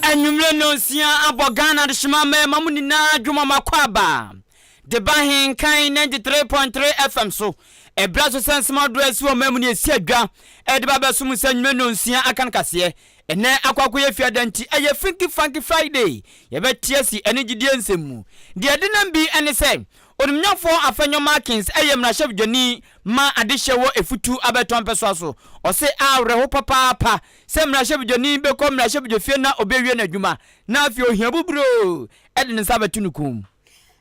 Anwummere nnɔnsia abɔ Ghana adehyema mmarima mu nyinaa adwom ɔma kɔ aba de ba he Nkan 93.3 FM so. Ɛberɛ so sɛ nsɛm ahodoɔ a ɛsi wɔ ɔman mu no yɛsi adwa de ba abɛsom nsa nnwuma nnɔnsia aka no kaseɛ Ɛnnɛ akɔ akɔyɛ Fiada nti ɛyɛ Funky Funky Friday. Yɛbɛte asi ɛne gyidie nsɛm mu. Deɛ ɛdenam bi ne sɛ, Onimnyafoɔ Afenyo Markins yɛ mmarahyɛbdwani ma adehyeɛ wɔ Efutu Abɛtɔ mpɛsoa so. Ɔse awerɛho papaapa sɛ mmarahyɛbdwani bɛkɔ mmarahyɛbdwafie na ɔbɛwie n'adwuma na afei ohiabuburoo de ne nsa abɛto ne kɔn mu.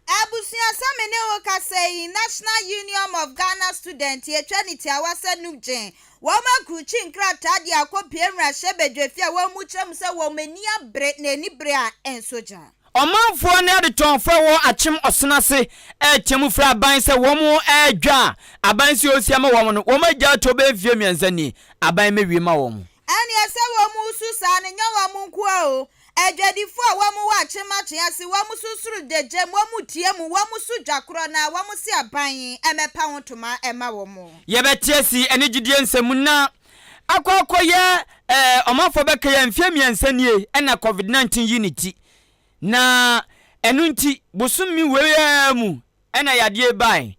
Abusua sɛ me ne wo kasa yi National Uniom of Ghana Student yɛtwa ne tiawa sɛ Nupgyn wɔn akrukyi nkrataa de akɔpue mmarahyɛ badwafi a wɔn mu kyerɛ mu sɛ wɔn ani abere na ani bere a ɛnso gya. Ɔmanfoɔ ne adetɔnfoɔ a ɛwɔ Akyem Ɔsena ase retea mu frɛ aban sɛ wɔn ɛredwa a aban si ɔsi ama wɔn no wɔn agya ato bɛyɛ mfeɛ mmiɛnsa nie aban mɛwie ma wɔn. Ɛneɛ sɛ wɔn su saa no nyɛ wɔn nkoa o Adwadifo a wɔwɔ akyemmakye ase, wɔn so soro da gya mu, wɔn tia mu, wɔn so dwa korɔ na wɔn se aban mmɛpa ho ntoma mma wɔn. Yɛbɛteɛ si ɛne gyidie nsɛm na akɔ akɔyɛ ɛɛ ɔmanfoɔ bɛka yɛ mfeɛ mmiɛnsa nie ɛna covid 19 yi ne ti na ɛno nti bosome wei ara mu Ɛnna yadeɛ bae.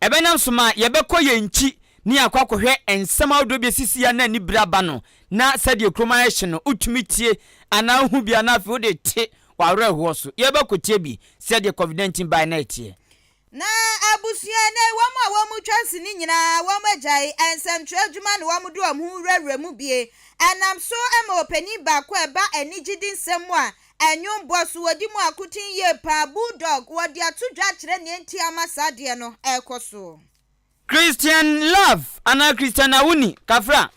Ɛbɛnam so ma yɛbɛkɔ yɛn nkyi na yɛakɔ akɔhwɛ nsɛm ahodoɔ bi a ɛsisi a na anibere aba no, na sɛdeɛ kurom ayɛ hye no, wotumi tie anaa wohu bi a na afei wode te w'awerɛhoɔ so. Yɛbɛkɔtie bi sɛdeɛ COVID-19 baeɛ no a ɛteɛ. Ná abusua na ɛwɔ mu a wɔtwa si no nyinaa, wɔagyae nsɛmtwerɛ adwuma na wɔde wɔn ho wurawura mu bi. Ɛnam so ma ɔpanin baako a ɛba anigyede nsɛm mu a Ɛnwom bɔ so wɔ di mu akoten yie paa Bulldog wɔde ato dwa akyerɛ nea nti ama saa adeɛ no ɛrekɔ so. Christian Love anaa Christian Awuni, Kafra,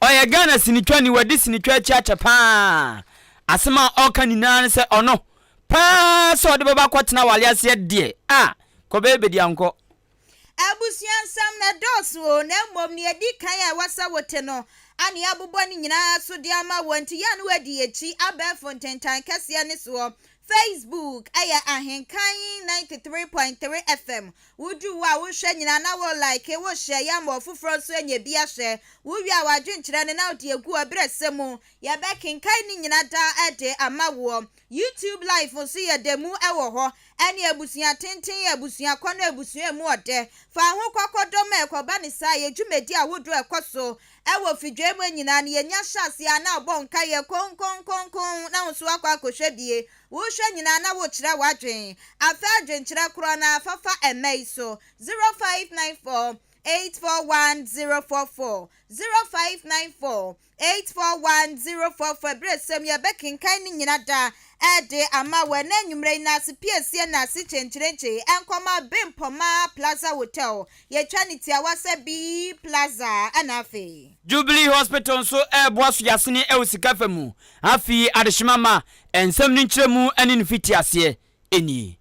ɔyɛ Ghana sinitwani, wadi sinitwa akyi akyɛ paa. Asɛm a ɔka nyinaa ne sɛ ɔno paa sɛ ɔde bɛba akɔtena awale aseɛ deɛ a kɔbɛyɛ bɛdi ankɔ. Abusua nsɛm no dɔɔso oo, na mmom nea edi kan a ɛwɔ sɛ wote no a nea abobɔ ne nyinaa so de ama wo nti, yɛn a na wɔadi akyi abɛɛfo ntentan kɛseɛ ne soɔ, Facebook, ɛyɛ Ahenkan 93.3 FM. Wodu wo a, wohwɛ nyinaa na wo like, wo share yɛ ma ɔfoforɔ nso anya bi ahwɛ. Wowie a, w'adwenkyerɛ no na wode agu ɔbrɛsɛ mu. Yɛbɛkenkan ne nyina daa de ama woɔ. YouTube Life nso yɛ dɛ mu wɔ hɔ. Ɛne Abusua Tenten yɛ abusuakɔ ne abusua mu ɔdɛ. Fa ho kɔkɔdɔ ma ɛkɔba ne saa. Yɛ dwumadi ahodoɔ a ɛkɔ so wɔ fidwai mu nyinaa no. Yɛnya hyɛ aseɛ a na abɔ nkaeɛ konkonkonkonn na wo nso akɔ akɔhwɛ bi. Wohwɛ nyinaa na wokyerɛ w'adwene. Afɛ adwenkyerɛ korɔ no ara fa fa ɛmma yi so, 0594 841 044, 0594 Eight four one zero four four Abiresɛm yi a yɛbɛkenkan ne nyina da ɛde ama wo ɛnɛ anwummerɛ yi na ase piesie na ase kyenkyerenkye nkɔma Bempɔma Plaza Hotel yɛtwa no tiawa sɛ B Plaza ɛna afei. Jubilee Hospital nso reboa Sogyasene wɔ sika fa mu. Afei adehyema ma nsɛm no nkyerɛmu ne ne mfitiaseɛ nie.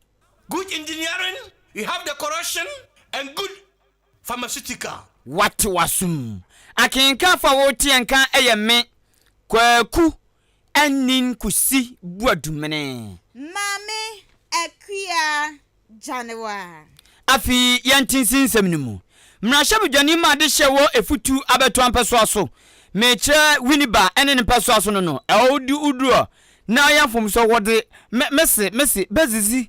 Good engineering, you have the correction and good. pharmaceutical. Wate w'asom akenkan fa wo teɛ nka ɛyɛ me Kwaku Anyin Kusi Boadumene. Maame Akua Gyanewa. Afe yi yɛn tinsin nsɛm no mu mmarahyɛbedwani ma adehyɛ wɔ Efutu abɛtoa mpɛsoa so mekyerɛ Winneba ne ne mpɛsoa so no no ɛwɔ wo di wo duro na ɔyɛ mfomsoɔ wɔde me mese mese bɛzizi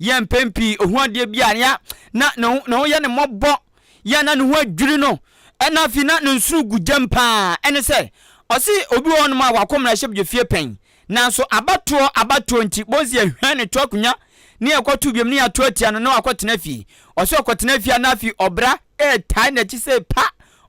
Yɛ mpɛn pii ohu adeɛ bi a ya na ne ho ne ho yɛ no mmɔbɔ, yɛ na ne ho adwiri no, ɛna afei na ne nsoro gu gyam paa. Ɛne sɛ, ɔse obi wɔ hɔnom a wako mmarahyɛbdwa fie pɛn, nanso abatoɔ abatoɔ nti, bohu sɛ yɛhwɛn ne to akonya ne yɛkɔto biom ne yato atia no ne wakɔ tena fie. Ɔse ɔkɔtena fie a na afei ɔbra ɛɛtae n'akyi sei pa,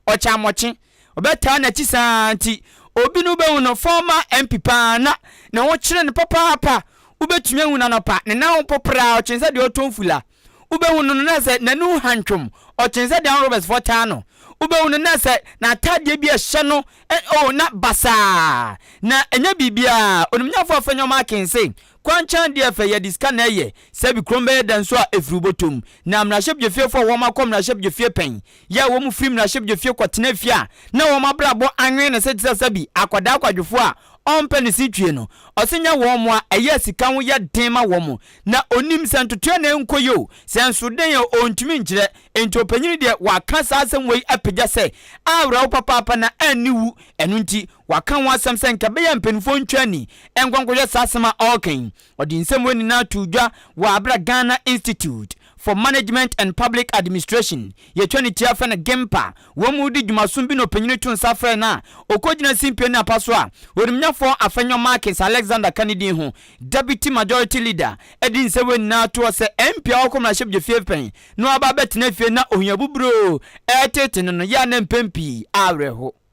ɔkyɛ amɔkye. Ɔbɛtaa n'akyi saa nti, obi no wobɛhu no fɔmma MP paa na ne ho kyere no papaapa. Wobɛtumi ahu no anɔpa, ne nan ho popraa, ɔkyene sɛ deɛ ɔretɔ mfula. Wobɛhu no no na sɛ n'ani ho hantwom, ɔkyene sɛ deɛ Armed Robbers foɔ taa no. Wobɛhu no na sɛ n'ataadeɛ bi a ɛhyɛ no ɛ oh na basaa, na ɛnyɛ biribiara. Onimnyafoɔ a ɔfrɛ Nneɛma Akin se, Kwankyan deɛ fɛ yɛde sika na ɛyɛ, sɛbi kurom bɛyɛ dɛ nso a ɛfiri wo bɔtɔ mu. Na mmarahyɛbdwafiefo a wɔakɔ mmarahyɛbdwafie pɛn, yɛ a wɔfiri mmarahyɛbdwafie kɔtena fie a na wɔn abrabɔ anwene ne se te sɛ sɛbi akwadaa kwadwofoɔ a ɔmpɛ ne se twie no, ɔse nya wɔn mmoa, ɛyɛ a sika ho yɛ den ma wɔn. Na ɔnim sɛ ntotoeɛ na ɛnkɔ yie o, sɛ nso dɛn o, ɔntumi nkyerɛ. Enti ɔpanyini deɛ waka saa asɛm wei apagya sɛ, Aawera wo papaapa na anni wu, ɛno nti, Waka ho asɛm sɛ nka ɛbɛyɛ a mpanimfoɔ ntwa ani nkɔ nkɔhwɛ saa asɛm a ɔreka yi. Ɔde nsɛm wei nyinaa too dwa wɔ aberɛ a Ghana Institute for Management and Public Administration, yɛtwa no tiafa no GIMPA, wɔn mu redi dwumasom bi na ɔpanyini too nsa frɛɛ no a ɔkɔgyina simpie ne apa so a Orimnyafoɔ Afenyo Markins Alexander ka ne din ho Deputy Majority Leader de nsɛm wei nyinaa toɔ sɛ MP a ɔkɔ mmarahyɛbdwafie pɛn na waba abɛtena fie na ohiabuburoo reteete no no yɛ a na mpɛn pii awerɛho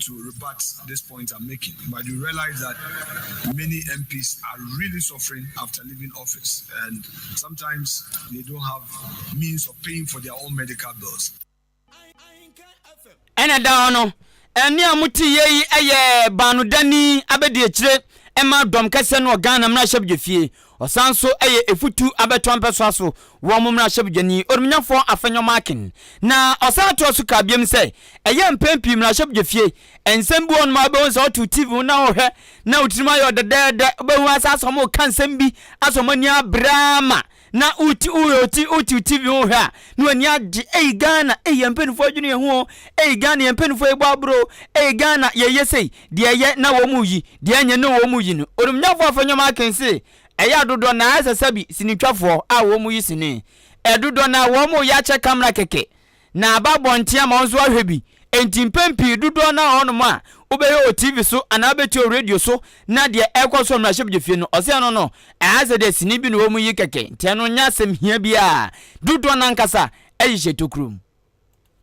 to rebut this point I'm making but you realize that many MPs are really suffering after leaving office and sometimes they don't have means of paying for their own medical bills. ɛna da hɔ no ɛne a mote yɛ yi ɛyɛ baanodani abɛdi akyire ɛma dɔm kɛseɛ no wɔ Ghana mmarahyɛbdwafie Ɔsan nso yɛ efutu abɛtɔ mpɛsoa so wɔ ɔmo mmarahyɛbedwani Odumnyafoɔ Afenyo Markin. Na ɔsan toa so kaa biom sɛ, Ɛyɛ mpɛn pii mmarahyɛbedwafie, nsɛm bi wɔ hɔnom a wobɛhu sɛ woto TV ho na wohwɛ na wo tirim ayɛ wo dɛdɛɛdɛ, wobɛhu ara saa sɛ ɔmo reka nsɛm bi asɔ ɔmo ani abere ara ma na wo ti, wo, wo ti, wote TV ho hwɛ a, No ani agye ei Ghana ei yɛn mpanyinfoɔ adwene yɛn ho o ei Ghana yɛn mpanyinfoɔ yi bɔ aboro o ei Ghana yɛ yɛ sei deɛ ɛyɛ na wɔn mu yi deɛ ɛnyɛ no wɔn mu yi no onimnyafoɔ afɛnyɔma aken se ɛyɛ adodɔ na ayɛ sɛ sɛbi sinitwafoɔ a wɔn mu yi sini ɛdodɔ na wɔn mu yɛ akyɛ kamera kɛkɛ na aba abɔnten ama wɔn nso ahwɛ bi enti mpɛn pii dodɔ na wɔn a wobɛyɛ wɔ TV so anaa wobɛtie wɔ radio so Na deɛ ɛrekɔ so mmarahyɛbedwafie no, ɔsɛ ɛno no, ɛha sɛ deɛ sini bi na wɔn yi kɛkɛ, nti ɛno nyɛ asɛm hia biara, dodoɔ no ankasa ɛyɛ hyɛ tokuro mu.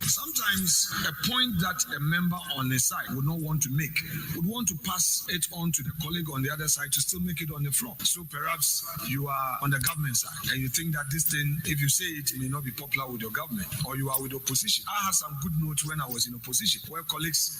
Sometimes a point that a member on a side would not want to make would want to pass it on to the colleague on the other side to still make it on the floor so perhaps you are on the government side and you think that this thing if you say it may not be popular with your government or you are with opposition I had some good notes when I was in opposition where colleagues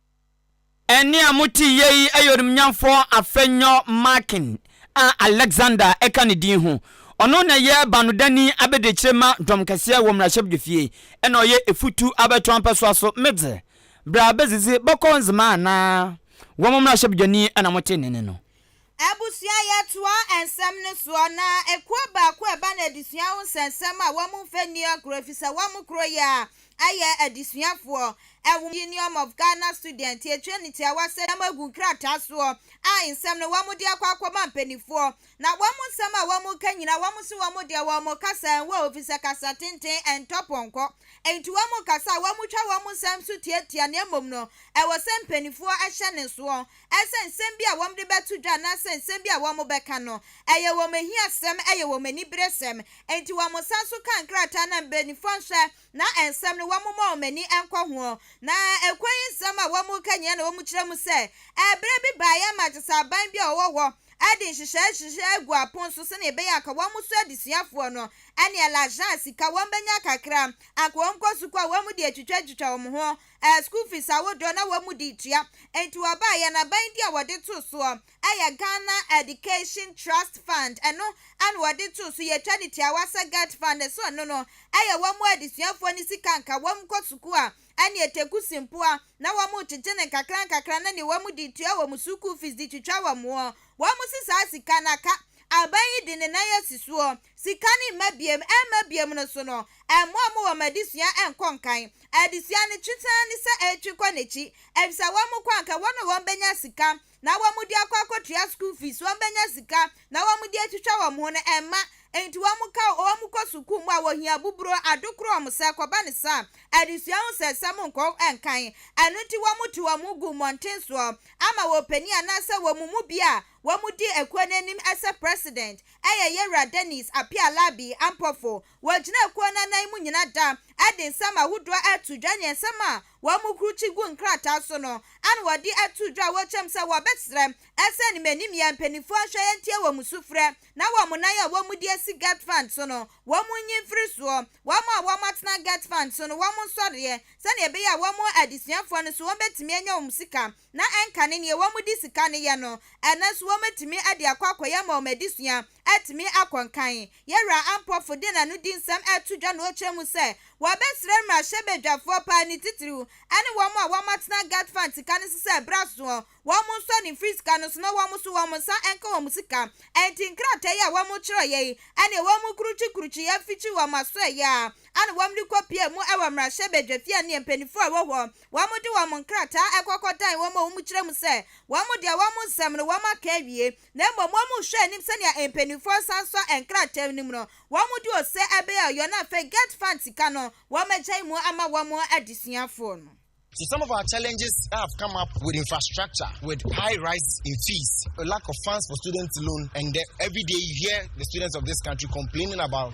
Ɛnne a moteyɛ yi yɛ onimnyamfo Afenyo Markin a Alexander ka ne din ho. Ɔno na ɛyɛ banodani abadiakyire ma dɔm kɛseɛ wɔ mmarahyɛbdwafie ɛna ɔyɛ efutu abɛto ampɛsoa so medze bra bɛdzidzi bɔkɔɔ ndzema anaa wɔn mmarahyɛbdwani na motee ne nne no. Abusua Yɛtoa nsɛm no soɔ na ekuo baako ɛba no adesua ho nsɛnsɛm a wɔn mfa nni agorɔ efisɛ wɔn koro yɛ a ɛyɛ adesuafoɔ ɛwɔ Uniom of Ghana Students yɛtwerɛ no tiawa sɛdeɛ moagu nkrataa soɔ a nsɛm no wɔn de akɔ akɔma mpaninfoɔ na wɔn nsɛm a wɔn reka nyinaa wɔn se wɔn deɛ wɔn kasa ɛnwɔ hɔ efisɛ kasa tenten ɛntɔ pɔnkɔ enti wɔn kasa a wɔn twa wɔn nsɛm so tiatia na mmom no ɛwɔ sɛ mpaninfoɔ hyɛ ne soɔ sɛ nsɛm bi a wɔde bɛto dwa anaasɛ nsɛm bi a wɔbɛka no, ɛyɛ wɔn ahiasɛm, ɛyɛ wɔn aniberesɛm. Enti wɔsan nso kaa nkrataa no a mpanyimfoɔ nhwɛ na nsɛm no wɔmmɔ wɔn ani nkɔ ho. Na ɛkwan yi nsɛm a wɔka nyinaa na wɔkyerɛ mu sɛ, ɛberɛ bi baeɛ ma gye sɛ aban bi a ɔwɔ hɔ de nhyehyɛeɛ hyehyɛ agu apon so sɛdeɛ ɛbɛyɛ a anka wɔn so adesuafoɔ no ne L'argent, sika, wɔbɛnya kakra a anka wɔkɔ sukuu a wɔde atwitwa atwitwa wɔn ho Ɛyɛ school fees ahodoɔ na wɔn de tua. Enti wɔbaa yɛn aban din a wɔde too soɔ yɛ Ghana Education Trust Fund. Ɛno na wɔde too so. Yɛtwa no tiawa sɛ Gert Fund ɛso ɛno no yɛ wɔn adesuafoɔ no sika nka. Wɔn kɔ sukuu a ɛneɛ Teku Simpoa na wɔn rekyekye no nkakra nkakra na neɛ wɔn de tua wɔn sukuu fees de twitwa wɔn wɔn se saa sika no aka aban yi de ne nan asi soɔ. Sika no mma biam, ɛmma biam no so no, ɛmmoa mo wɔ mo adesua ɛnkɔ nkan. Adesua no twe saa ne sɛ ɛretwe kɔ n'akyi, ɛfisɛ wɔn kɔ anka wɔn a wɔbɛnya sika na wɔde akɔ akɔtua school fees, wɔbɛnya sika na wɔde atwitwa wɔn ho no ɛmma enti wɔka wɔn kɔ sukuu mu a wɔhia abuburo, adokoro wɔn sɛ kɔba no saa a adesua ho sɛnsɛm nkɔ nkan, ɛno nti wɔte wɔn ho gu mmɔnten soɔ ama wɔpanin anaasɛ wɔn mu bi a Wɔdi akuo no anim sɛ President yɛ Yewura Denis Appiah-Labi Ampofo. Wɔgyina akuo no anan mu nyina da de nsɛm ahodoɔ reto dwa ne nsɛm a wɔkrukyi gu nkrataa so no ano wɔde ato dwa a wɔkyɛm sɛ wɔbɛsrɛ sɛ animanimyɛ mpaninfoɔ nhwɛ ntie wɔn sufrɛ na wɔn nan a wɔdi asi Gert-Fund so no wɔn nyi mfiri soɔ. Wɔn a wɔatena Gert-Fund so no wɔn nsɔreɛ sɛdeɛ ɛbɛyɛ a wɔn adesuafoɔ no nso wɔbɛtumi anya wɔn sika na ɛnka ne nea wɔde sika no yɛ no, ɛno nso wɔatumi de akɔ akɔyɛ ama wɔn adesua, atumi akɔ nkan. Yɛn Wura Ampofo de n'ano di nsɛm reto dwa na ɔkyerɛ mu sɛ wɔbɛsrɛ mmarahyɛbadwafoɔ paa ne titiriw ne wɔn a wɔatena Gat Fund sika no so sɛ ɛberɛ aso wɔn nsɔ no mfiri sika no so na wɔn nso wɔn nsa nka wɔn sika Enti nkrataa yi a wɔkyerɛeɛ yi ne wɔkurukyikurukyi afikyi wɔn asoɛeɛ a na wɔde rekɔpue mu wɔ mmarahyɛbadwafie a nea mpanimfoɔ a ɛwɔ hɔ wɔde wɔn nkrataa kɔkɔdan wɔn a wɔkyerɛ mu sɛ wɔn deɛ wɔn nsɛm no wɔaka awie, na mmom wɔnhwɛ anim sɛnea mpanimfoɔ resan sɔ nkrataa no mu no, wɔde ose bɛyɛ ɔyɔ na afei GETFund sika no wɔagyae mu ama wɔn adesuafoɔ no. So some of our challenges that have come up with infrastructure with high rises in fees, lack of funds for student loan and the everyday you hear the students of this country complaining about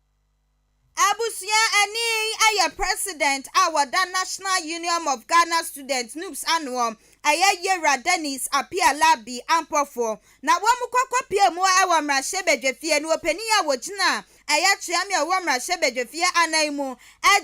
Abusua ani ayɛ President a wɔda National Union of Ghana Students, NUGS, ano, ɛyɛ Yera Dennis Appiah Larbi Ampofo, na wɔn kɔ kɔ pie mu wɔ mmarahyɛbadwafie no ɔpanin a wɔgyina ɛyɛ Kyeame a ɔwɔ mmarahyɛbadwafie anan mu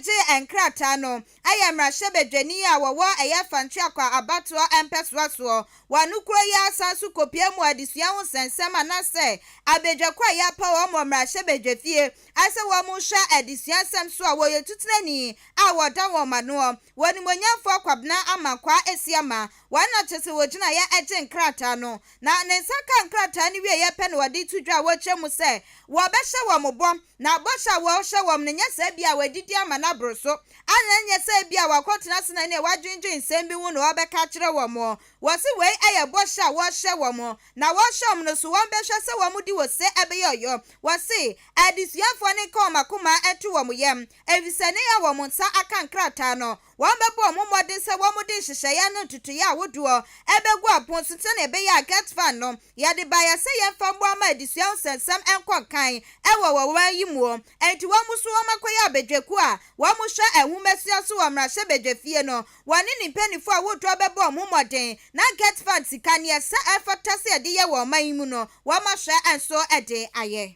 gye nkrataa no yɛ mmarahyɛbadwani a wɔwɔ ɛyɛ fa Ntweakwa abatoɔ mpɛsoa soɔ. Wɔ ano kuro yi ara san so kɔpia mu adesua ho nsɛnsɛm anasɛ abadwakɔ a yɛapa wɔn wɔ mmarahyɛbadwafie sɛ wɔn nhwɛ adesua nsɛm so a wɔyɛ otutenani a wɔda wɔn anoɔ wɔ Animuonyamfoɔ Kwabena Amankwaa Asiamah Wɔn na kyerɛ sɛ wɔgyinaeɛ ɛgye nkrataa no, na ne nsa kaa nkrataa no wieeɛ pɛ na ɔde to dwa a wɔkyerɛ mu sɛ wɔbɛhyɛ wɔn bɔ, na bɔhyɛ a wɔrehyɛ wɔn no nyɛ sɛ ebia wɔadidi ama no aboro so, anaa ɛnyɛ sɛ ebia wɔakɔtena ase na ɛnneɛ wɔadwendwen nsɛm bi ho na wɔrebɛka akyerɛ wɔn. Wɔse wei ɛyɛ bɔhyɛ a wɔrehyɛ wɔn, na wɔrehyɛ wɔn no so wɔbɛhwɛ sɛ wɔn di wɔ se ɛbɛyɛ ɔyɔ. Wɔse adesuafoɔ no nka wɔn akoma nto wɔn yam, ɛfiri sɛ ne yɛ a wɔn nsa aka nkrataa no, Wɔbɛbɔ wɔn mmɔden sɛ wɔde nhyehyɛeɛ ano ntotoeɛ a ahodoɔ bɛgu apon so sɛdeɛ ɛbɛyɛ a Get Van no, yɛde baeɛ sɛ yɛmfa mmoa mma adesua ho nsɛnsɛm nkɔ nkan wɔ wɔn ɔman yi mu. Enti wɔn nso wɔakɔyɛ abadwakuo a wɔhwɛ nhomasua so wɔ mmarahyɛbadwafie no. Wɔne ne mpanimfoɔ ahodoɔ bɛbɔ wɔn mmɔden na Get Van sika nea ɛsɛ a ɛfata sɛ yɛde yɛ wɔ ɔman yi mu no, wɔahwɛ nso de ayɛ.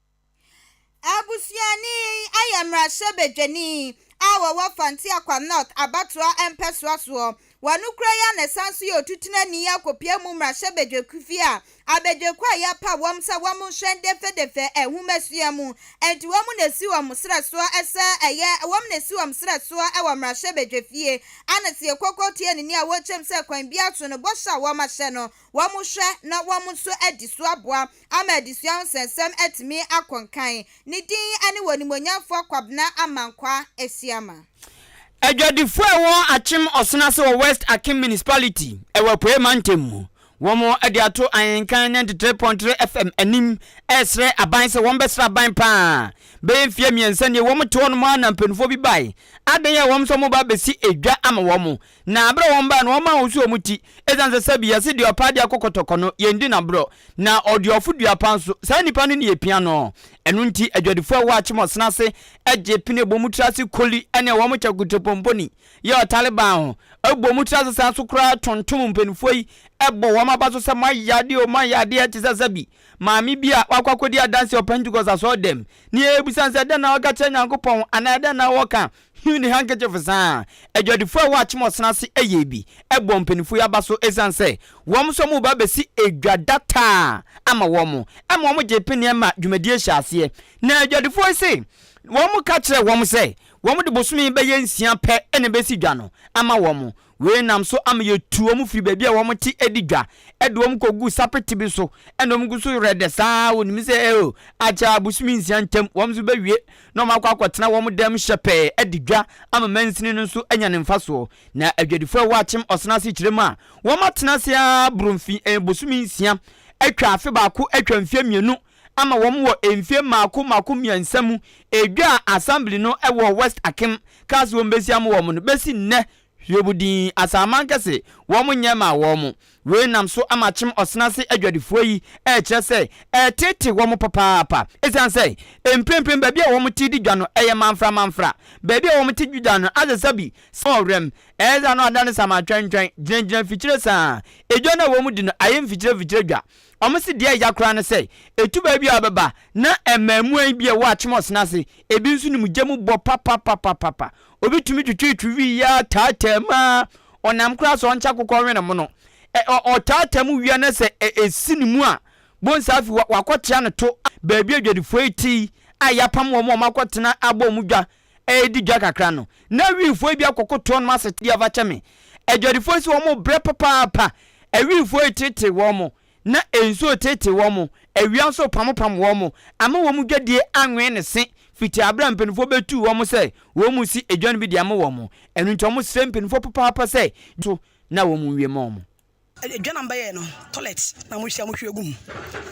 Abusuani yi yɛ mmarahyɛbadwani a ɔwɔ Fante Akwa North abatoɔ mpɛsoa soɔ. Wɔkura yi a na ɛsan nso yɛ otutenani akɔpue mu mmarahyɛbadwakufi a abadwakuo a yɛapa wɔn sɛ wɔn nhwɛ dɛfɛdɛfɛ nhomasua mu nti wɔn na ɛsi wɔn serɛ soɔ sɛ ɛyɛ wɔn na ɛsi wɔn serɛ soɔ wɔ mmarahyɛbadwafie ana sɛ yɛkɔkɔ tie ne nea wɔkyɛm sɛ kwan biara so no bɔhyɛ a wɔahyɛ no wɔn hwɛ na wɔn nso adi so aboa Ama adesua ho nsɛnsɛm atumi akɔ nkan. Ne din ne Wɔ Animuonyamfoɔ Kwabena Amankwah Asiamah. Adwadifoɔ a ɛwɔ Akyem Ɔsen ase wɔ West Akim Municipality ɛwɔ Apueɛ Mantam mu. Wɔn de ato Ahenkan ninety three point three FM anim ɛresrɛ aban sɛ wɔn bɛsra aban paa. Bɛyɛ mfeɛ mmiɛnsa nie wɔn te hɔ nom ara na mpaninfoɔ bi bae. Adan a wɔn nso wɔn reba abɛsi edwa ama wɔn. Na bere a wɔn bae no, wɔn maa wɔn so wɔn ti, esiane sɛ sɛbi yɛse deɛ ɔpɛ adeɛ akɔ kɔtɔkɔ no, yɛn di no aborɔ, na ɔduafo dua pa nso, saa nipa no na yɛpia no. Ɛno nti adwadifo a ɛwɔ Akyemɔsena ase gye pene bɔ mu tra ase koli ɛne wɔn kyɛ kutrepɔmpɔni yɛ ɔtaleban ho, bɔ mu tra ase san nso koraa tontom mpaninfoɔ yi bɔ wɔn aba so sɛ moayɛ adeɛ o, moayɛ adeɛ, te sɛ sɛbi maame bi a wakɔ akɔdi adanseɛ wɔ Pentecost asɔredam, ne yɛbisa no sɛ dɛn na waka kyerɛ Nyankopɔn anaa dɛn na wɔka Hugh ne handkerchief saa ara. Adwadifo a ɛwɔ Akyem Ɔsena ase ɛyɛɛ bi ɛbɔɔ mpanyinfo yi aba so esiane sɛ wɔn nso wɔn reba abɛsi edwa data ama wɔn ɛma wɔn gyee peneɛ ma dwumadie hyɛɛ aseɛ. Na adwadifoɔ yi se wɔn ka kyerɛɛ wɔn sɛ wɔn de bosome bɛyɛ nsia pɛ na ɛbɛsi dwa no ama wɔn. Wei nam so ama yɛtu wɔn firi baabi a wɔn te adi dwa de wɔn kɔgu sapete bi so na wɔn gu so werɛ dɛ saa ara, wɔnim sɛ eo akyɛ ara bosome nsia ntam wɔn nso bɛwie na wɔakɔ akɔtena wɔn dan mu hyɛpɛɛ adi dwa ama mansini no nso anya ne mfasoɔ. Na adwadifoɔ a ɛwɔ Akyem Ɔsena asekyerɛ mu a wɔatena ase ara boro mfe, bosome nsia atwa afe baako atwa mfeɛ mmienu, ama wɔn wɔ mfie mmaako mmaako mmiɛnsa mu, edwa a Assembly no wɔ West Akim kaa sɛ wɔbɛsi ama wɔn no bɛsi nnɛ Hiob din, Asaman kɛse, wɔn nyɛ mmaa wɔn. Wei nam so ama Kyem Ɔsena Ase adwadifoɔ yi rekyerɛ sɛ ɛretete wɔn papaapa ɛsiane sɛ mprempren baabi a wɔn te di dwa no yɛ manfra manfra, baabi a wɔn te di dwa no asesa bi sɛ ɔwɛm, ɛyɛ saa na wɔadane saman twɛntwɛn gyinagyina mfikyire saa, edwa no a wɔn di no ayɛ mfikyire mfikyire dwa. Wɔse deɛ ɛya koraa ne sɛ, etu baabi a ɔbɛba na mmaamuwa yi bi a ɛwɔ Atmos no ase, ebi nso nim gya mu bɔ papapapapapa. Obi tumi twetwetwe wii yi ara taataa mu ara, ɔnam koraa sɛ ɔnkyɛ akokɔ nwe ne mono. Ɛ, ɔ, ɔtaataa mu wia na sɛ ɛ, ɛsi ne mu a, bonsa afi hɔ, wakɔtea no to a, baabi a adwadifoɔ yi te yi a yɛapam wɔn a wɔakɔtena abɔ wɔn dwa Ɛredi dwa kakra no, na Wiifoɔ yi bi akɔkotoɔ nom asete de afakyɛ me. Adwadifoɔ yi sɛ wɔn rebrɛ papaapa. Awiifoɔ yi teetee wɔn, na nsuo reteetee wɔn, awia nso repamopam wɔn ama wɔn dwadie anwe ne se fiti aberɛ a mpaninfoɔ bɛtuu wɔn sɛ wɔn mmusi adwa no bi de ama wɔn. Ɛno nti wɔsrɛ mpaninfoɔ papaapa sɛ, so na wɔn nwie ma wɔn. Edwanam bɛyɛɛ no toilet na mo hyia mo hwie gu mu.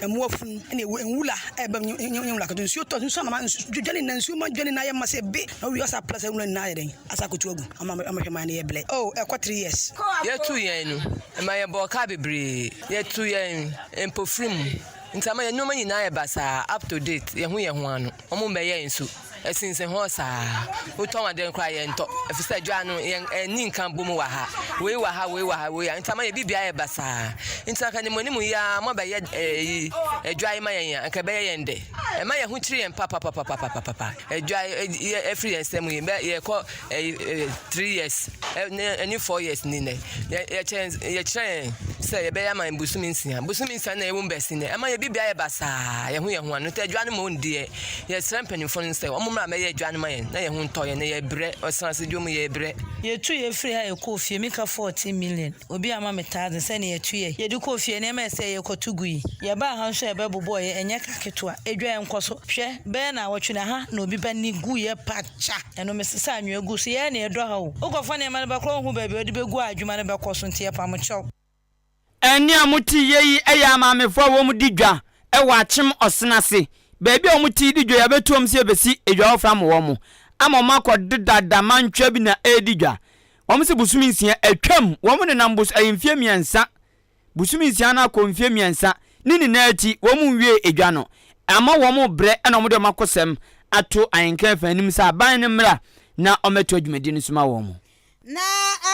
Mmoa funu ɛna ewu nwula a ɛbɛm nye nye nye nwula ketewa. Nsuo tɔ nsuo anoma nsu dwane nyinaa nsuo ma dwane nyinaa yɛ ma sɛ be na owie ɔsɛ apra saa nwura nyinaa ayɛ dɛn asa akotu agu ama ama hwɛ man no yɛ blɛ oh ɛkɔ three years. Yɛtu yɛn no ɛma yɛ bɔɔ kaa bebree yɛtu yɛn mpofiri mu nti ama yɛ nnoɔma nyinaa yɛ basaa up to date yɛ ho yɛ ho ano. wɔn mbɛyɛ nsu ɛsinsin hɔ saa wotɔn ade no koraa yɛntɔ efisɛ dwa no yɛn ɛni nka bom wɔ ha wei wɔ ha wei wɔ ha wei nti ama yɛ bi bia yɛ basaa nti anka nimu nimu yi ara mo bɛyɛ ɛyi ɛdwa yi ma yɛn yɛn anka ɛbɛyɛ yɛn dɛ ɛma yɛn ho kyerɛ yɛn papapapapapapa ɛdwa yɛ ɛfiri yɛn nsam yi bɛ yɛkɔ. three years ɛne four years ni nɛ yɛkyerɛ yɛkyerɛ yɛn sɛ yɛbɛyɛ ama yɛn bosomi nsia bosomi nsia na yɛwɔ mu bɛsi nɛ ɛma yɛ bibia yɛ basaa yɛn ho yɛn ho ano tɛ adwa no ma wɔn deɛ yɛsrɛ mpanyinfoɔ no sɛ wɔn mmra mɛyɛ adwa no ma yɛn na yɛn ho ntɔ yɛn na yɛbrɛ ɔsan ase dwa mu yɛbrɛ. Yɛtu yɛ firi ha yɛkɔ ofie mika fourteen million obi ama me thousand sɛ nea yɛtu yɛ yɛde kɔ ofie nneɛma ɛsɛ yɛ kɔto gu yi yɛbaa ha nso ɛbɛ bobɔɔ yɛ ɛnyɛ ka ketewa adwa yɛn nkɔ so hwɛ bɛyɛ na awɔtwe na ha na obi ba ni gu yɛ pa kya. Ɛno mesesa anwea gu so yɛɛ nea ɛdɔ ha o. Wokɔfa nneɛma no bɛkora wohu baabi a wode bɛgu a adwuma no bɛkɔ so nti yɛpam kyɛw. Ɛnne a moteyɛ yi yɛ amaamefoɔ a wɔn di dwa wɔ akyem ɔsen ase baabi a wɔn te di dwa yi abɛtu wɔn sɛ yɛbɛsi edwa foforɔ ama wɔn ama wɔn akɔ deda da mantwa bi na ɛredi dwa wɔn se bosome nsia atwam wɔn nenam bos ɛyɛ mfeɛ mmiɛnsa bosome nsia no akɔ mfeɛ mmiɛnsa ne nyinaa akyi wɔn nwiee edwa no ama wɔn rebrɛ na wɔn de wɔn akosɛm ato ahenkan fã anim sɛ aban no mmra na wɔmmɛtoa dwumadie no so ma wɔn. Na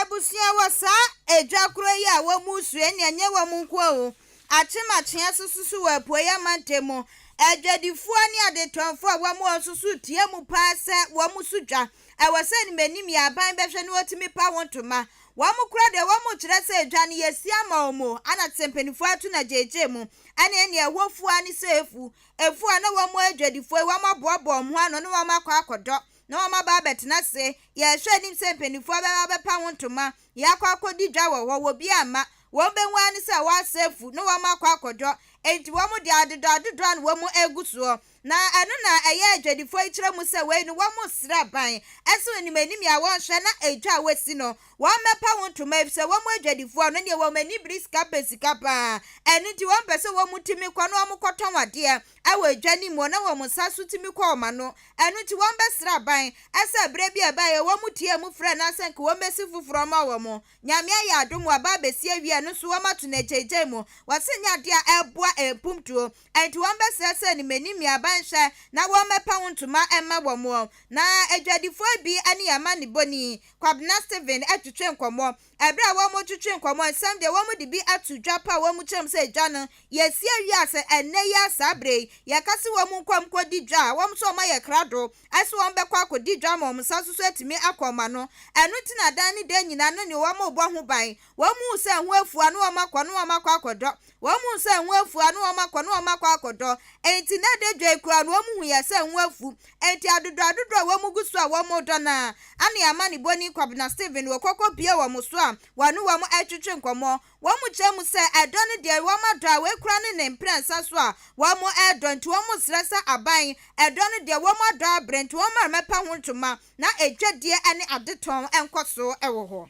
abusua wɔ saa edwa korɔ yi a wɔn resuɛ na ɛnyɛ wɔn nko ara o, Akyem Akyea nso susu wɔ Apueɛ amantam mu. Adwadifoɔ ne adetɔnfoɔ a wɔn wɔ hɔ nso so retea mu pa ara sɛ wɔn so dwa. ɛwɔ sɛ animanim yɛ aban bɛhwɛ na wɔtumi pa ho ntoma. Wɔn kora deɛ wɔkyerɛ sɛ edwa no yɛ si ama wɔn o, ana te sɛ mpaninfoɔ ato no agyeegyee mo, ɛne ɛnneɛ ɛhɔ fua ne sɛ efu, efu a na wɔn adwadifoɔ yi wɔn aboaboa wɔn ho ano na wɔn akɔ akɔdɔ na wɔn aba abɛtena ase, yɛhwɛ anim sɛ mpaninfoɔ bɛba abɛpa ho ntoma, yɛakɔ akɔdi dwa wɔ hɔ, wɔbi amma, wɔn bɛhu ara ne sɛ wɔasa afu na wɔn akɔ akɔdɔ, enti wɔn deɛ adodɔ adodɔ a na wɔn agu soɔ, Na ɛno na ɛyɛ adwadifoɔ yi kyerɛ mu sɛ wei no wɔn resrɛ aban ɛso anim anim a wɔn hwɛ na edwa a wɔasi no wɔn mmɛpa ho ntoma efisɛ wɔn adwadifoɔ no deɛ wɔn ani bere sika pɛ sika paa ɛno nti wɔn pɛ sɛ wɔn tumi kɔ na wɔn kɔ tɔn adeɛ ɛwɔ edwa no mu na wɔn nsa so tumi kɔ wɔn ano ɛno nti wɔn bɛsrɛ aban ɛsɛ bere bi a ɛbaeɛ wɔn tiee mu frɛ no asɛ nka wɔn bɛsi foforɔ ama wɔn Nyame ayɛ adom waba abɛsi awie ɛno nso wɔn ato no agyaagyae mu wɔse nyɛ adeɛ a ɛboa ɛmpumptuo Enti wɔbɛsrɛsrɛ ne mani mmeaban hwɛ, na wɔmmɛpa wo ntoma mma wɔn. Na adwadifoɔ bi ne amanebɔni Kwabena Stephen twetwe nkɔmmɔ. Ɛberɛ a wɔretwetwe nkɔmmɔ nsɛm deɛ wɔde bi ato dwa pa a wɔn kyerɛm sɛ gya no, yɛasie awia sɛ ɛnnɛ yi ara saa berɛ yi, yɛka sɛ wɔn nkɔ nkɔdi dwa a, wɔn nso wɔayɛ krado sɛ wɔbɛkɔ akɔdi dwa ama wɔn nsa nso so atumi akɔ wɔn ano. Ɛno nti na daa ne daa nyinaa no ne wɔn rebɔ ho ban. Wɔhuu sɛ ɛho afua na wɔakɔ na wɔakɔ akɔdɔ. Wɔhuu sɛ ɛho afua na wɔakɔ na wɔakɔ akɔdɔ. Enti na ɛda dwa yi koraa no, wɔhuiɛ sɛ ɛho afu. Enti adodoɔ-adodoɔ a wɔgu so a wɔredɔ no ara, Anne amanebɔni Kwabena Stephen wɔ kɔkɔ pue wɔn so a wɔne wɔn retwetwe nkɔmmɔ. Wɔkyerɛ mu sɛ ɛdɔ no deɛ, wɔadɔ a wei koraa ne ne mprɛnsa so a wɔredɔ nti wɔresrɛ sɛ aban ɛdɔ no deɛ wɔadɔ abrɛ nti wɔmma mmɛpa ho ntoma na adwadie ne adetɔn nkɔ so wɔ hɔ.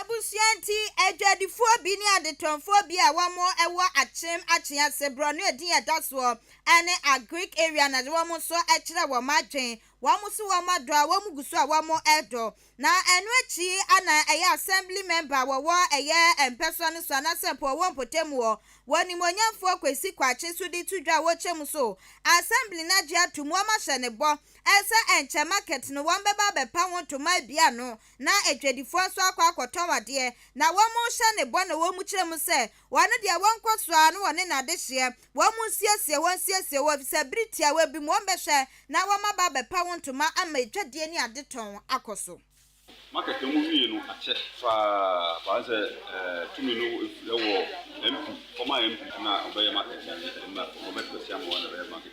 Abusua nti, adwadifoɔ bi ne adetɔnfoɔ bi a wɔwɔ Akyem Akyee ase, borɔno edin a ɛda soɔ ne Agric area na wɔn nso kyerɛ wɔn adwene. Wɔn nso wɔn dɔ a wɔn gu so a wɔdɔ. Na ɛno akyi na ɛyɛ Assembly member a wɔwɔ ɛyɛ Mpɛsoa no so anaasɛ mpo ɔwɔ mpɔtam hɔ, wɔ Nimonyamfoɔ Kwesi Kwakye so de to dwa a wɔkyɛm so Assembly no agye atom, wɔahyɛ no bɔ sɛ ɛnkyɛ market no wɔbɛba abɛpa ho ntoma abien ano. na adwadifoɔ nso akɔ akɔtɔn adeɛ, na wɔrehyɛ no bɔ na wɔrekyerɛ mu sɛ, Wɔn deɛ, wɔnkɔ so ara na wɔne no adehyeɛ. Wɔnsiesie, wɔnsiesie wɔn, ɛfiri sɛ berɛ tiawa bi mu wɔbɛhwɛ na wɔaba abɛpa wo ntoma ama adwadie ne adetɔn akɔ so. Market a wɔwie no akyɛ paa paa ayɛ sɛ tumi no wɔ MP, former MP na ɔbɛyɛ market no mmra, ɔbɛtɔ asia ama wɔn na ɛbɛyɛ market.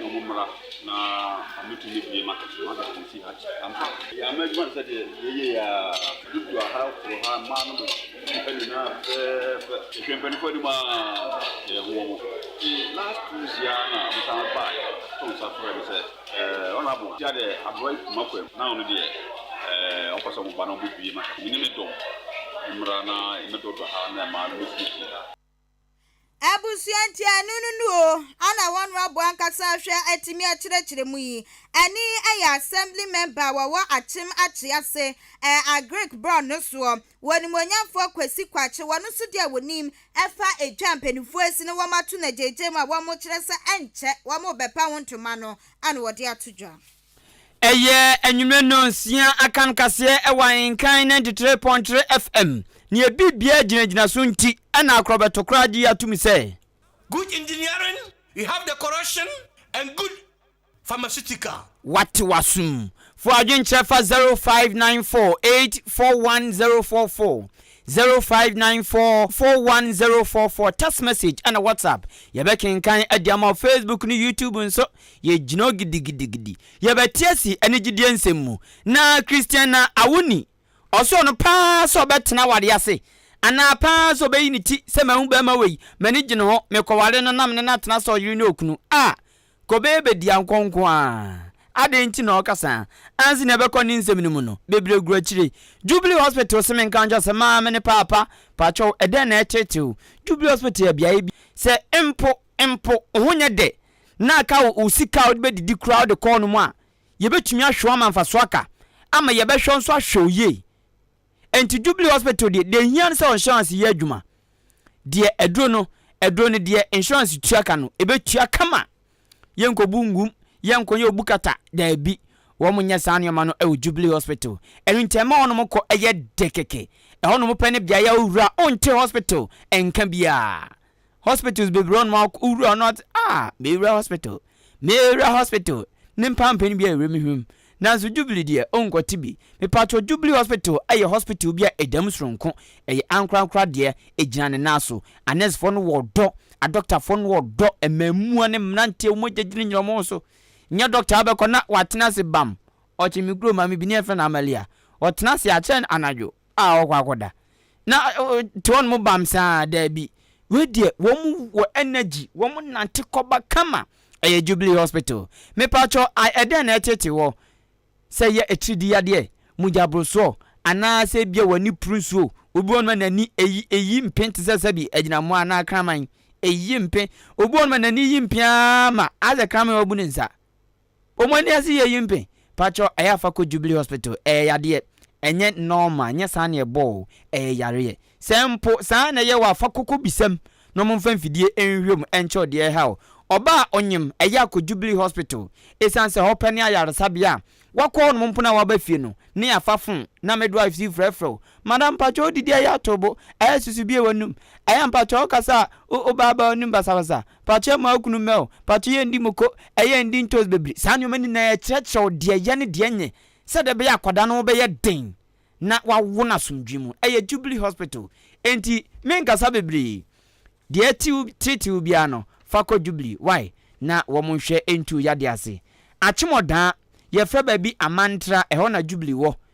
Mo mo mmra na ɔmo tumi bie market no market no si ha ampa. Yɛ ama adwuma no sɛ deɛ yɛ yɛ yɛ a. Dudu aha kuro ha mmaa no mo nipa nyinaa fɛɛfɛ ehwɛ mpanyinfoɔ anim a yɛ ho ɔmo. Ti last Tuesday a na ɔmo san ba yɛ to nsa frɛ me sɛ ɛɛ honourable tia deɛ aboa yi kuma kwam na ɔno deɛ ɛɛ ɔpɛ sɛ ɔmo ba na ɔmo bie market no me ne me dɔm mmra na yɛ mɛ dɔdɔ ha na mmaa no mo siesie ha. Abusua ntianu no no o ana wɔn rabo ankasa ahwɛ atumi akyerɛkyerɛ mu yi. Ɛne ɛyɛ Assembly Member a wɔwɔ Akyem Akyee ase ɛ Agric Brown no soɔ. Wɔ Animuonyamfoɔ Kwasi Kwakye wɔn nso deɛ wɔnim ɛfa edwa mpaninfoɔ asi na wɔato no agyaagyaa mu a wɔkyerɛ sɛ ɛnkyɛ wɔrebɛpa ho ntoma no ana wɔde ato dwa. Ɛyɛ anwummerɛ nnɔnsia akan kaseɛ wɔ Ahenkan 93.3 FM. Neɛ biribiara gyinagyina so nti na akorɔbɛto koraa gye atom sɛ. Good engineering, we have the corrosion and good pharmaceutical. Wate w'asom. Fo adwenkyerɛ fa 0594841044, 0594841044, text message ɛna WhatsApp. Yɛbɛkenkan de ama wo. Facebook ne YouTube nso, Yɛgyina hɔ gidigidigidi, yɛbɛte asi ne gyidie nsɛm mu. Na Christian na awo ni. Ɔsɔɔ no paa sɛ ɔbɛtena awareɛ ase, anaa paa sɛ ɔbɛyi ne ti sɛ mahu barima wei, m'ani gye ne ho, mekɔware no na me ne no atena sɛ ɔyere ne okunu. A! Kobee bɛdi ankɔ nko ara. Adɛn nti na ɔreka saa? Ansi na ɛbɛkɔ ne nsɛm no mu no, bebree gu akyire. Jubilee Hospital se menka nkyerɛ wo sɛ maame ne paapa, pakyɛw, ɛdɛn na ɛreteetew? Jubilee Hospital yɛ beaeɛ bi sɛ mpo, mpo, wo ho nyɛ dɛ, na aka wo wo sika a wode bɛdidi koraa wode kɔɔ no mu a, yɛbɛtumi ahwɛ wo ama mfasoɔ aka ama yɛbɛhwɛ wo nso ahwɛ wo yie. Ɛnti Jubilee Hospital deɛ, deɛ ɛhia no sɛ insurance yɛ adwuma. Deɛ aduro no, aduro no deɛ insurance tua ka no, ɛbɛtua kama. Yɛnkɔbu ngum, yɛnkɔyɛ obu kata, daabi. Wɔn nyɛ saa nneɛma no wɔ Jubilee Hospital. Ɛno nti ɛma hɔnom kɔ yɛ dɛ kɛkɛ. Ɛhɔnom pɛ ne beaeɛ a wowura a wonte hospital nka biara. hospitals bebree ɔnom a wowura ɔno ɔte ah mewura hospital mewura hospital ne mpampani bi a ɛwura me hwam nanso jubilee deɛ ɔnkɔte bi mepatwɔ jubilee hospital ɛyɛ hospital bi a ɛda mu soronko ɛyɛ ankorankora deɛ ɛgyina ne nan so anɛsfoɔ no wɔ dɔ adɔktafoɔ no wɔ dɔ mmamua ne mmeranteɛ wɔn agya gyina nyina wɔn so nyɛ dɔkta abɛkɔ na watena ase bam ɔkye me kuro maame bi ne ɛfɛ na amalia ɔtena ase akyɛ anadwo a ɔkɔ akɔda na ɔte hɔ nom bam saa a, daabi. Wei deɛ wɔn wɔ energy, wɔn nante kɔba kama. Ɛyɛ Jubilee Hospital. Mepakyɛ I ɛdɛn na ɛtete hɔ? Sɛ ɛyɛ atiridii yadeɛ, mogya borosoɔ, anaa sɛ ebia w'ani puru nsuo. Obi wɔ hɔnom a n'ani eyi eyi mpe te sɛ sɛbi agyinamoa anaa kraman. Eyi mpe. Obi wɔ hɔnom a n'ani yi mpe ara ma ayɛ sɛ kraman a wabu ne nsa. Wɔn ani ase yɛ yimpe. Pakyɛw ɛyɛ a fa kɔ Jubilee hospital, ɛyɛ yadeɛ, ɛnyɛ normal, nyɛ saa na ɛbɔ wo, ɛyɛ yareɛ. Sɛ mpo saa na ɛyɛ wo a fa kɔ kɔ bisa mu na wɔn mfa mfidie nhwɛ mu nkyɛ wo deɛ ɛha wo. Ɔbaa a ɔnyem, ɛyɛ a kɔ Jubilee hospital, ɛsiane sɛ hɔ pɛ ne ayaresabea a wakɔ hɔ nom mpo na waba fie no ne afa phone na midwives yi frɛfrɛ wo, Madam pakyɛw wodidi ɛyɛ a to bo, ɛyɛ a susu bue w'anum, ɛyɛ a mpakyɛw wokasa a wo ba aba w'anum basabasa, Pato yɛ ma wo kunu mɛ o. Pato yɛ ndi moko, ɛyɛ ndi ntos bebre. Saa nneɛma nyinaa ɛkyerɛkyerɛ wo deɛ yɛ ne deɛ nyɛ sɛdeɛ ɛbɛyɛ akwadaa no ho bɛyɛ den na wawo no asomdwoe mu. Ɛyɛ Jubilee Hospital enti menkasa bebree. Deɛ ɛte wo treat wo biara no fa kɔ Jubilee wai na wɔn nhwɛ ntu wo yadeɛ ase. Atwemɔdaa, yɛfrɛ baabi Amantra, ɛhɔ na Jubilee wɔ.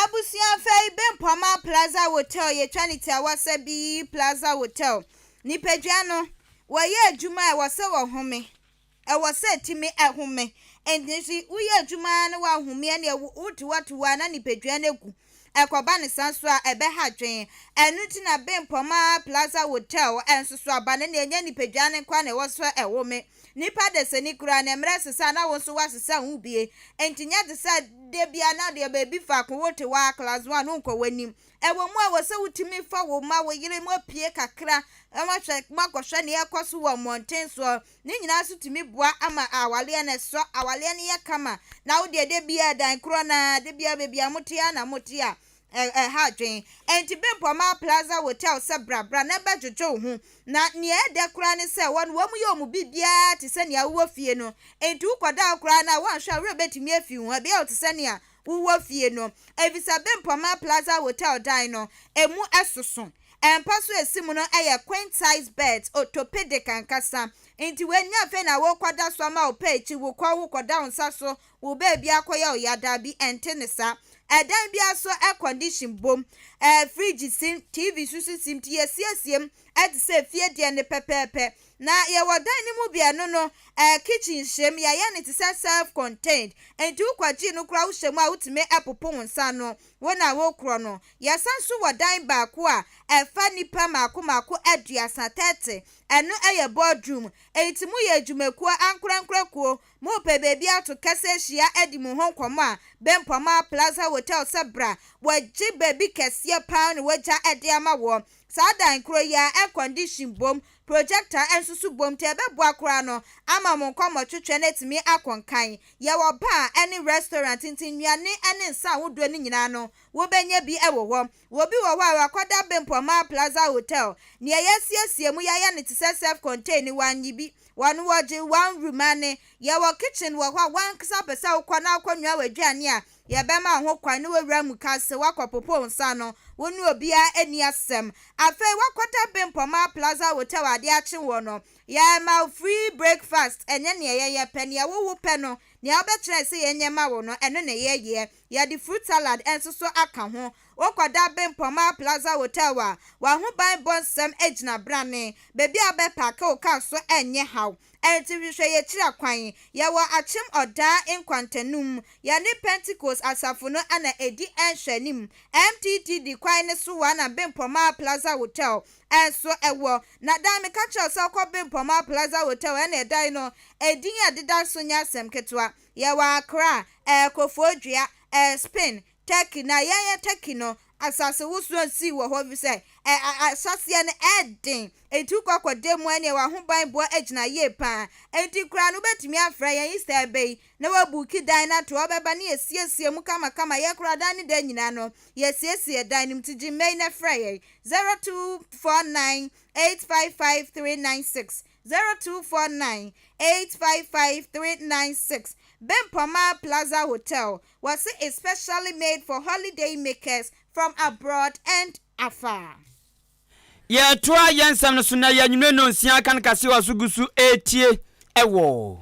Abusua fɛ yi bɛ mpɔma plaza hotel yɛ twa ne tia wɔ sɛ bi yi plaza hotel nipadua no wɔ yɛ adwuma ɛwɔ sɛ wɔ home ɛwɔ sɛ timi ɛhome ɛnti wo yɛ adwuma na wɔ ahome ɛne wo tiwa tiwa na nipadua no gu ɛkɔba ne san so a ɛbɛ ha dwen ɛnu ti na bɛ mpɔma plaza hotel ɛnso so aba ne ne ɛnyɛ nipadua no nkwa na ɛwɔ sɛ ɛhome Nnipa desani koraa na mmerɛ sesa na wo nso woasesa wo bie. Enti nyɛ te sɛ da biara na deɛ baabi faako wote hɔ ara class one wonkɔ w'anim. Ɛwɔ mu a ɛwɔ sɛ wotumi fa wo mma, wo yere mopue kakra na moahwɛ moakɔhwɛ deɛ ɛrekɔso wɔ mmɔnten soɔ. Ne nyinaa nso tumi boa ama awareɛ no ɛsɔ, awareɛ no yɛ kama na wodeɛ da biara dan korɔ no ara, da biara baabi a mote ara na mote a ɛha adwene. Enti Bempɔ maa Plaza Hotel sɛ bra, bra na bɛdwodwo wo ho. Na nea ɛyɛ dɛ koraa ne sɛ wɔn, wɔyɛ wɔn mu biribiara te sɛ nea wowɔ fie no. Enti wokɔda hɔ koraa no a, woanhwɛ a wo werɛ betumi afi ho, ɛbɛyɛ wo te sɛ nea wowɔ fie no. Efisɛ Bempɔ maa Plaza Hotel dan no, emu soso. Mpa so a esi mu no yɛ queen-size beds, orthopedic ankasa. Enti wei nyɛ afei na worekɔda so ama wo pɛ akyi, wokɔ, wokɔda wo nsa so, Wo baabi akɔyɛ wo ya dabi ɛnte ne saa ɛdan biara so air condition bom ɛɛ fridge sim TV susu sim nti yɛsiesie mu ɛte sɛ fie deɛ no pɛpɛɛpɛ na yɛwɔ dan no mu bi ɛno no ɛɛ kitchen hyɛ mu yɛayɛ no te sɛ self contained nti wo kɔgyee no koraa wo hyɛ mu a wotumi popo wo nsa ano wo na wo korɔ no yɛsan nso wɔ dan baako a ɛfa nnipa maako maako aduasa thirty ɛno ɛyɛ board room nti mo yɛ adwumakuo ankorankorakuo Mopɛ baabi ato kɛse ahyia adi mo ho nkɔmmɔ a, Bempɔmaa Plaza Hotel sɛ bra. Wɔagye baabi kɛseɛ pa ara na wɔagya de ama woɔ. Saa dan korɔ yi ara, air condition bom, projector nso so bom nti ɛbɛboa koraa no ama mo nkɔmmɔtwetwe no atumi akɔ nkan. Yɛwɔ bar ne restaurant nti nnuane ne nsa ahodoɔ no nyinaa no, wobɛnya bi wɔ hɔ. Obi wɔ hɔ a wakɔda bempɔ Mar Plaza Hotel, nea yɛasiesie mu yɛayɛ no te sɛ self-contained, wannye bi. Wɔn wɔgye one room ane. Yɛwɔ kitchen wɔ hɔ a w'ankasa pɛ sɛ wokɔ na akɔnoa w'aduane a, yɛbɛma wo ho kwan na woawura mu kase, woakɔpopo wo nsa ano, wo ne obiara anni asɛm. Afei woakɔda bempɔ Mar Plaza Hotel a ade akye wo no, yɛrema wo free breakfast, ɛnyɛ nea yɛyɛ pɛ, nea wo wo pɛ no, nea wobɛkyerɛ yɛn sɛ yɛnyɛ ma wo no, ɛno na yɛyɛ. Yɛde fruit salad nso so aka ho. Wokɔda Bempɔmaa Plaza Hotel a, w'ahobanbɔ nsɛm gyina brane. Baabi a wobɛpaake wo kar nso nyɛ haw. Enti hwehwɛ yɛn akyira kwan. Yɛwɔ Akyem Ɔdaa nkwantanum. Yɛne Pentekost Asafo no na edi nhwɛanim. MTTD kwan no so ara na Bempɔmaa Plaza Hotel nso wɔ. Na dan meka kyerɛ wo sɛ wokɔ Bempɔmaa Plaza Hotel a, ɛnneɛ dan no, edin a ɛdeda so nyɛ asɛm ketewa. Yɛwɔ Accra, ɛyɛ Koforidua, ɛyɛ Spain, Turkey, na yɛn yɛ Turkey no, asase wosoɔ nsii wɔ hɔ efisɛ ɛ, ɛ, asaseɛ no ɛyɛ den, enti wokɔ akɔda mu a ɛneɛ w'ahobanbɔ agyina yie pa ara. Enti koraa no wobɛtumi afrɛ yɛn Easter bɛ yi na woabuuki dan no ato hɔ, wobɛba na yɛasiesie mu kamakama, yɛn koraa dan no da nyinaa no yɛasiesie dan no mu, nti gye mma yi na frɛ yɛn, 0249 855 396. Zero two four nine eight five five three nine six Bempoma Plaza Hotel wɔse is specially made for holiday makers from abroad and afar. Yɛtoa yɛn nsɛm no so na yɛ anwummere nnɔnsia kan kase wɔ so gu so retie wɔ.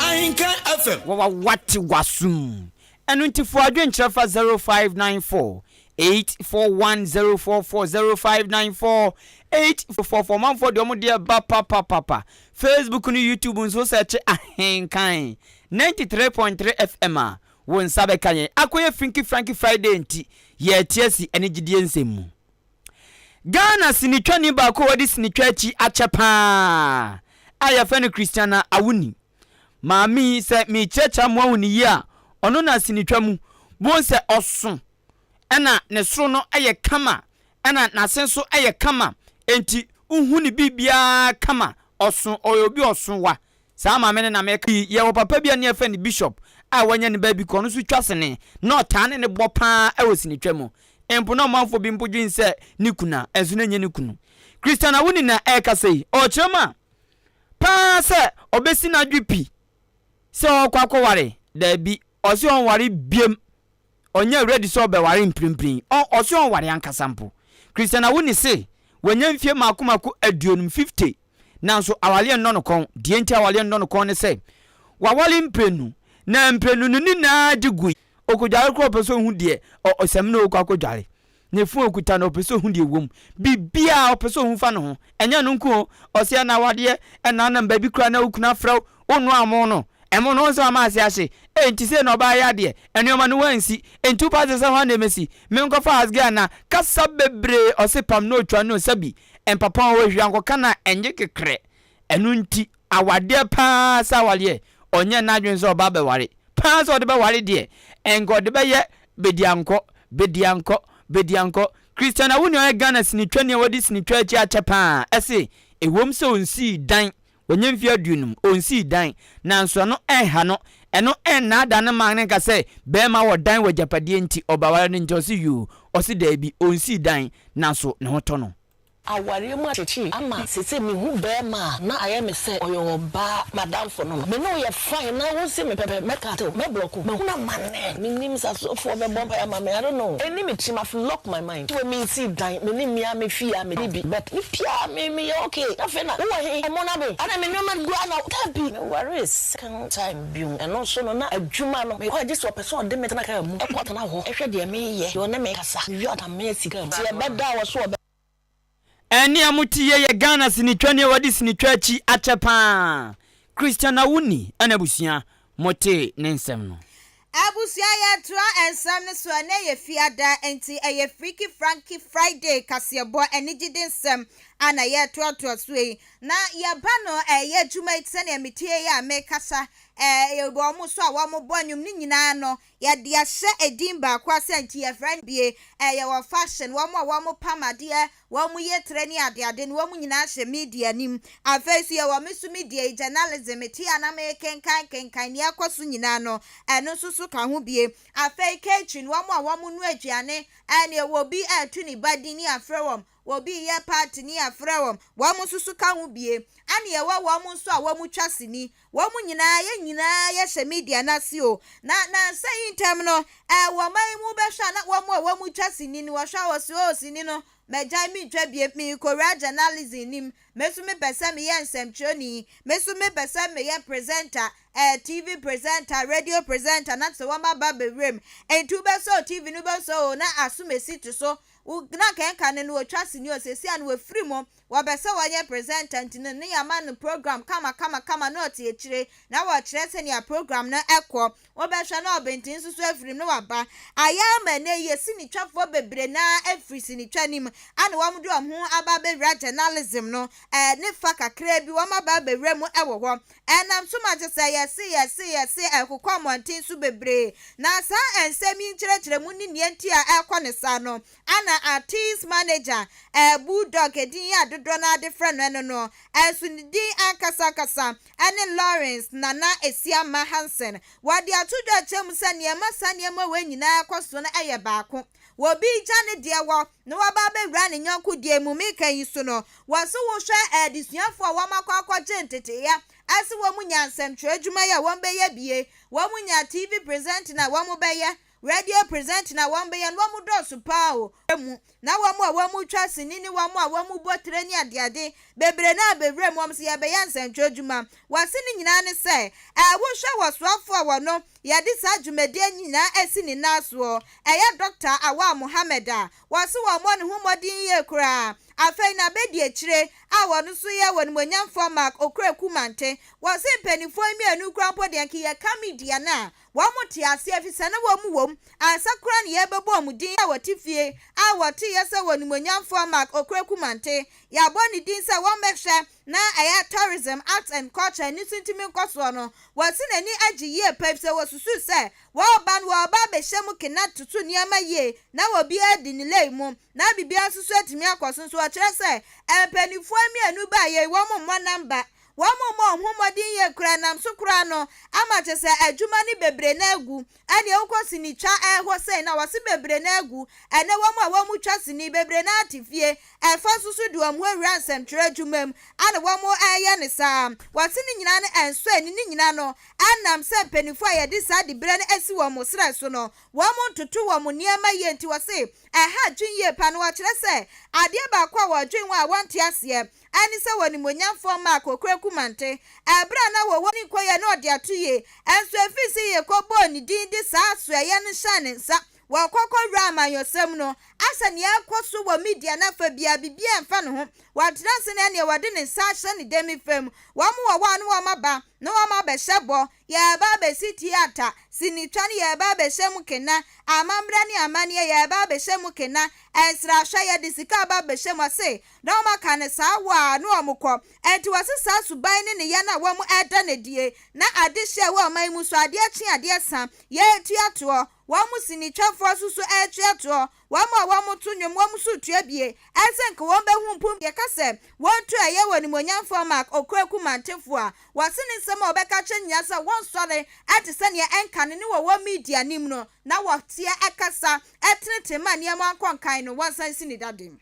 Ahenka FM. Wawa wate w'asom. Ɛno nti fa w'adwene kyerɛ fa zero five nine four Eight four one zero four four zero five nine four eight four four manfoɔ deɛ ɔmo deɛ ba papapapa facebook ne youtube nso sɛ kye ahenkan ninety three point three fm a wo nsa bɛka yɛn akɔyɛ finky franky friday nti yɛte asi ɛne gyidie nsɛm mu ghana sinitwani baako a wɔde sinitwa akyi akyɛ paa a yɛfrɛ no christiana awuni Maame yi, sɛ merekyerɛkyerɛ a moahu no yie a, ɔno na asenetwa mu. Bohu sɛ ɔso na ne soro no yɛ kama na n'ase nso yɛ kama. Enti wohu ne biribiara kama. Ɔso, ɔyɛ obi ɔso wa. Saa maame no na meka yi. Yɛwɔ papa bi a ne yɛfrɛ no Bishop a wanya ne baabi kɔ. Ɔno nso twa sene. Na ɔtaa ne ne bɔ paa wɔ senetwa mu. Mpo na ɔmanfoɔ bi mpo dwene sɛ ne kunu a, ɛnso na ɛnyɛ ne kunu. Christiana Wunina ɛrekasa yi, ɔrekyerɛ mu a, paa sɛ ɔbɛsi n'adwe pi sɛ ɔɔkɔ akɔware? Daabi, ɔse ɔnware biam, ɔnyɛ ready sɛ ɔbɛware mprenpren, ɔse ɔnware ankasa mpo. Christian Awuni se wanya mfie maako maako aduonum, 50, nanso awareɛ nnɔ no kɔn. Deɛ nti awareɛ nnɔ no kɔn ne sɛ, waware mprenu, na mprenu no nyinaa gye gui. Ɔkɔdware koraa ɔpɛ sɛ ɔhu deɛ ɔsɛm ne ɔɔkɔ akɔdware. Ne fon a ɔkuta no, ɔpɛ sɛ ɔhu deɛ ɛwɔ mu. Biribiara a ɔpɛ sɛ ɔhu fa ne ho. Ɛnyɛ ɛno nko o, ɔse ɛna awadeɛ, ɛna anam baabi koraa na wo kunu afrɛ wo, wonnoa ɛmo no. Ɛmo no, wohu sɛ wama ase ahye. Ei, nti sei na ɔbaa yi adeɛ? Nnoɔma no woansi. Nti wopɛ akyerɛ sɛ hwan na ɛmɛsi? Menkɔfa Hasgai anaa? Kasa bebree, ɔse pam na ɔtwa no o, sɛbi mpapawa a wahwira nkɔka no a, ɛnye kekerɛ. Ɛno nti awadeɛ paa sɛ awadeɛ ɔnyɛ n'adwene sɛ ɔbaa bɛware paa sɛ ɔde bɛware deɛ ɛnka ɔde bɛyɛ bediankɔ bediankɔ bediankɔ Christiana Wuni ɔyɛ Ghana sinitwani a wadi sinitwa akyi akyɛ paa ɛse ɛwom sɛ ɔnsii dan wanya mfeɛ aduonum ɔnsii dan nanso ɛno ɛnha no ɛno ɛnnaadaa ne man no nka sɛ bɛɛma wɔ dan wɔ agyapadeɛ nti ɔbaware no nti ɔse yoo ɔse daabi ɔnsii dan nanso ne ho tɔ no. Awareɛ mu akyekyere ama sese mehu bɛɛma a na ayɛ me sɛ ɔyɛ ɔbaa madamfo no no me ne wo yɛ fine na wo se me pɛpɛ mɛ cut wo mɛ block wo mahunu amanɛ me nim sɛ asɔfoɔ bɛ bɔ mpaeɛ ama me I don't know ɛni me tirim I've locked my mind to a me nsii dan me ne me a me fie a me di bi but me pia a me me yɛ okay na afei na wo wɔ he ɔmo na me adɛn me nnoɔma no gu a na dabi me waree second time bio ɛno nso no na adwuma no me kɔ a gye sɛ ɔpɛ sɛ ɔde me tena car mu ɛkɔ tena hɔ ɛhwɛ deɛ me yɛ deɛ ɔne me kasa me wie a ɔda Nti ɛbɛ da a wɔ so ɔbɛ. Ɛnne a mote yie yɛ Ghana sinitwa ni a wɔde sinitwa akyi akyɛ paa. Christian Awuni ɛna abusua motee ne nsɛm no. Abusua yɛtoa nsɛm no so ɛnɛ yɛ fiada nti ɛyɛ Freaky Franky Friday kaseɛbɔ anigyede nsɛm a na yɛretoatoa so yi na yɛba no ɛyɛ adwuma yi te sɛnea metie yi a mekasa ɛɛ wɔn nso a wɔbɔ nnwom no nyinaa no Yɛde ahyɛ edin baako ase a nti yɛfrɛ no bie. Ɛyɛ wɔ fashion, wɔn a wɔn pam adeɛ, wɔn yɛ tire ne ade ade no wɔn nyinaa hyɛ media anim. Afei nso yɛwɔ me nso media yi journalism me te a na me kenkan kenkan nea ɛkɔ so nyinaa no ɛno nso so ka ho bie. Afei kitchen wɔn a wɔn noa aduane ɛne ɛwɔ obi a yɛto ne ba din ne yɛafrɛ wɔn Obi yɛ paatini a frɛ wɔn, wɔn nso so ka ho bie. Ana yɛwɔ wɔn nso a wɔn twa sini. Wɔn nyinaa, yɛn nyinaa yɛ hyɛ media no ase o. Na nansa yi ntɛm no, ɛɛ wɔ ɔman yi mu bɛhwɛ a na wɔn a wɔn twa sini no, wɔhwɛ a wɔse oo sini no magyae mentwa biem, merekowura journalism no mu, me nso mepɛ sɛ meyɛ nsɛmtwerɛni, me nso mepɛ sɛ meyɛ presenter, ɛɛ TV presenter, radio presenter, na te sɛ wɔn aba abɛwura mu. Nti wobɛsɔ TV no wobɛsɔ o, na asomasi te so, Wo na kɛnka no no otwa sini o sɛsi a no wafiri mu wɔbɛ sɛ wɔnyɛ presenter nti no no yama no program kama kama kama na ɔte akyire na wɔkyerɛ sɛnea program no ɛkɔ wobɛ hwɛ na ɔbenten nso so afirim na waba ayɛ ama ɛnɛ yɛ sini twa foɔ bebree na afiri sini twa nim ana wɔn de wɔn ho aba abɛwura journalism no ɛɛ ne fa kakraa bi wɔn aba abɛwura mu ɛwɔ hɔ Ɛnam so ma te sɛ yɛse, yɛse, yɛse, ɛrekokɔ mmɔnten so bebree. Na saa nsɛm yi nkyerɛkyerɛmu ne nea nti a ɛrekɔ no saa no, Anna Artist Manager, ɛɛ, Bull Dog, edin yi a dodoɔ no ara de frɛ no ɛno no, ɛnso ne din ankasa ankasa ne Lawrence Nana Asiamah Hansen. Wɔde ato dwa kyerɛ mu sɛ nea ɛma saa nneɛma wei nyinaa kɔ so no yɛ baako. Wɔ obi regya ne deɛ wɔ na waba abɛwura ne yɔnko deɛ mu meka yi so no, wɔ se wo hwɛ adesuafoɔ a wɔn akɔ akɔgye nteteeɛ ase wɔn nya nsɛmtwerɛ adwuma yɛ a wɔn bɛyɛ bie, wɔn nya TV presenter a wɔn bɛyɛ, radio presenter a wɔn bɛyɛ no wɔn dɔɔso paa o, mu na wɔn a wɔn twa sini ne wɔn a wɔn bɔ tire ne adeade bebree no abɛwura mu wɔn se yɛbɛyɛ nsɛmtwerɛ adwuma, wɔ se ne nyinaa ne sɛ, ɛɛ wo hwɛ wɔ soafoɔ a wɔn Yɛde saa dwumadie nyinaa asi ne nan soɔ. Ɛyɛ Dɔkta Awal Mohammed a wɔse wɔmmɔ ne ho mmɔden yie koraa. Afei no abɛdi akyire a wɔn nso yɛ wɔnimuonyamfoɔ Mark Okraku Mante. Wɔse mpaninfoɔ yi mmienu koraa mpo deɛ nka yɛka media no a wɔn te aseɛ efisɛ na wɔn wɔ mu ansa koraa na yɛrebɛbɔ wɔn din a wɔte fie a wɔteeɛ sɛ wɔnimuonyamfoɔ Mark Okraku Mante. Yɛabɔ ne din sɛ wɔmmɛhwɛ. na ɛyɛ Tourism, Arts and Culture ne suntumi nkɔsoɔ no, wɔasi n'ani agye yie pa efisɛ wɔsusuu sɛ wɔreba no wɔreba abɛhyɛ mu kena toto nneɛma yie na obiara adi ne lane mu na biribiara nso so atumi akɔ so nso ɔkyerɛ sɛ mpaninfoɔ mmienu baeɛ yi wɔn mmɔ namba wɔn mmɔ wɔn ho mmɔden yie koraa ɛnam so koraa no ama kyerɛ sɛ adwuma no bebree no agu Ɛne wokɔ sini twa hɔ sɛn na wɔse bebree no agu ɛne wɔn a wɔn twa sini bebree no ara te fie ɛmfa nso so de wɔn awura nsɛmtwerɛ adwuma mu ana wɔn reyɛ no saa wɔse ne nyinaa no ɛnsɔ ani ne nyinaa no ɛnam sɛ mpaninfoɔ a yɛde saa diberɛ no asi wɔn serɛ so no wɔn ntoto wɔn nneɛma yie nti wɔse ɛha adwen yie paa na wɔkyerɛ sɛ adeɛ baako a wɔdwen ho a wɔnte aseɛ ɛne sɛ wɔ animuonyamfoɔ mma Akokora Kumante ɛberɛ a na wɔwɔ ne nkoyɛ ne ɔde ato yie ɛnso ɛfiri sɛ yɛkɔ bɔɔ ne din de saa asoɛeɛ no hyɛɛ ne nsa wɔ kɔkɔ wura amanyɔsɛm no asɛ nea ɛrekɔ so wɔ media no afa biara biribiara ɛmfa ne ho wɔntena ase na ɛneɛ wɔde ne nsa ahyɛ ne dɛmifam wɔn wɔwɔ a na wɔn aba na wɔn abɛhyɛ bɔ Yɛreba abɛsi tiata, sinitwa ne yɛreba abɛhyɛ mu kena, amambra ne amanneɛ yɛreba abɛhyɛ mu kena, nsrahwɛ yɛde sika reba abɛhyɛ mu ɔse na wɔn aka no saa wɔ a na wɔn kɔ. Ɛnti wɔse saa suban ne ne yɛ no a wɔn ɛda no adie na ade hye ɛwɔ ɔman mu so adeɛ kye adeɛ sa yɛretua toɔ, wɔn sinitwafoɔ nso so ɛretua toɔ, Wɔn a wɔto nnwom, wɔn nso retua bi. Ayɛ sɛ anka wɔn bɛ ho mpo yɛ ka sɛ wɔn tu ɛyɛ wɔ animuonyamfoɔ Mark Okraku Mantefo a wɔse ne nsɛm a ɔbɛka akyerɛ nyinaa sɛ wɔnsɔre te sɛ nea ɛnkane ne wɔ wɔn media anim no na wɔteɛ kasa tenetene ma nneɛma nkɔ nkan no wɔnsan nsi ne dadeɛ.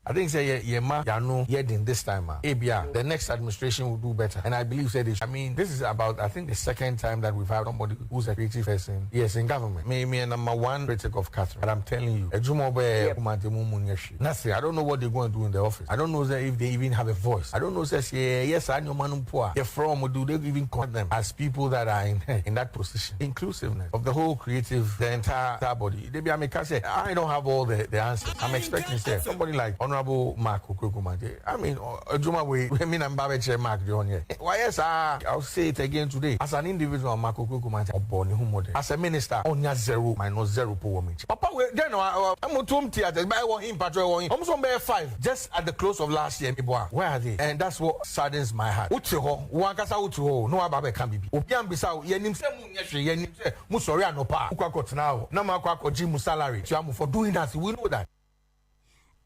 I think sɛ yɛ yɛ ma y'ano yɛ den this time a ebia the next administration will do better and I believe sɛ they should I mean this is about I think the second time that we've had somebody who's a creative person yes in government me me yɛ number one critic of Catherine but I'm telling you adwuma ɔbɛyɛ yɛ Kumasi mu mu nyɛ hwee nothing I don't know what they go and do in the office I don't know sɛ if they even have a voice I don't know sɛ sɛ yɛ yɛ saa nneɛma no mpo a yɛ frɛ wɔn do they even contact them as people that are in in that position inclusiveness of the whole creative the entire entire body. Da biara me ka sɛ I don't have all the the answers I'm expecting sɛ somebody like honourable Mark Okurekumadze I mean adwuma wei me na me ba bɛkyerɛ Mark deɛ ɔnyɛ wayɛ saa I'll say it again today as an individual Mark Okurekumadze ɔbɔ ne ho mmɔden as a minister ɔnya zero minus zero po wɔ me nkyɛn papa wei dɛn na wa ɛmo tom theatres ba ɛwɔ he mpatsɔ ɛwɔ he ɔmo so ɔmo bɛyɛ five just at the close of last year me bɔ a where are they and that's what saddens my heart wo te hɔ wo ankasa wo te hɔ o na waba abɛka biribi obi ammisa wo yɛnim sɛ. nyɛ hwee yɛ nim sɛ mo sɔre anɔpa a mo kɔ akɔtena hɔ na mo akɔ akɔgye mo salary tua mo for doing that we know that.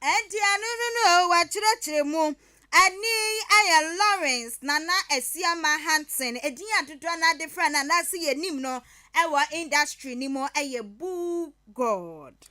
Ɛnti ɛno no no o wakyerɛkyerɛ mu. Ɛne yi ɛyɛ Lawrence Nana Asiamah Hanson ɛdin a dodoɔ no ara de frɛ no anaase yɛ nim no ɛwɔ industry no mu ɛyɛ Boo God.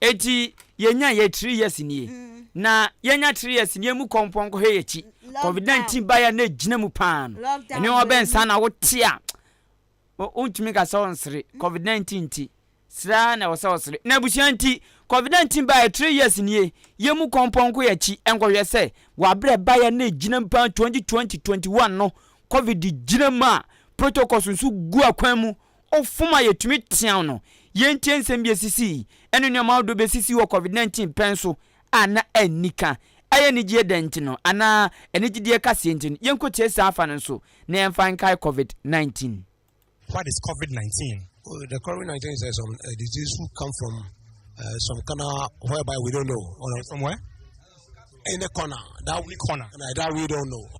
Enti yɛnya yɛ three years nie na yɛnya three years nie mu kɔ mpɔnkɔ hɛ yɛkyi covid 19 ba yɛ na egyina mu paa no ɛne wɔn bɛn saa na wote a wontumi ka sɛ ɔnsere covid 19 nti sra na ɛwɔ sɛ ɔsere na abusua nti covid 19 ba yɛ three years nie yɛ mu kɔ mpɔnkɔ yɛkyi nkɔhwɛ sɛ wɔabrɛ ba yɛ na egyina mu paa 2020 21 no covid gyina mu a protocols nso gu akwan mu Ɔfam a yɛtumi teaw no, yɛntie nsɛm bi a esisii, ne nneɛma ahodoɔ bi a esisii wɔ Covid nineteen pɛn so a na anni ka. Ɛyɛ anigyeɛ dɛn nti no? Anaa anigyedeɛ kaseɛ nti no? Yɛnkɔtie saa afa no nso, na yɛmfa nkae Covid nineteen. What is Covid nineteen? Well, the Covid nineteen is uh, some uh, disease who come from uh, some corner whereby we don't know. Or, from where? Any corner that we corner that we don't know.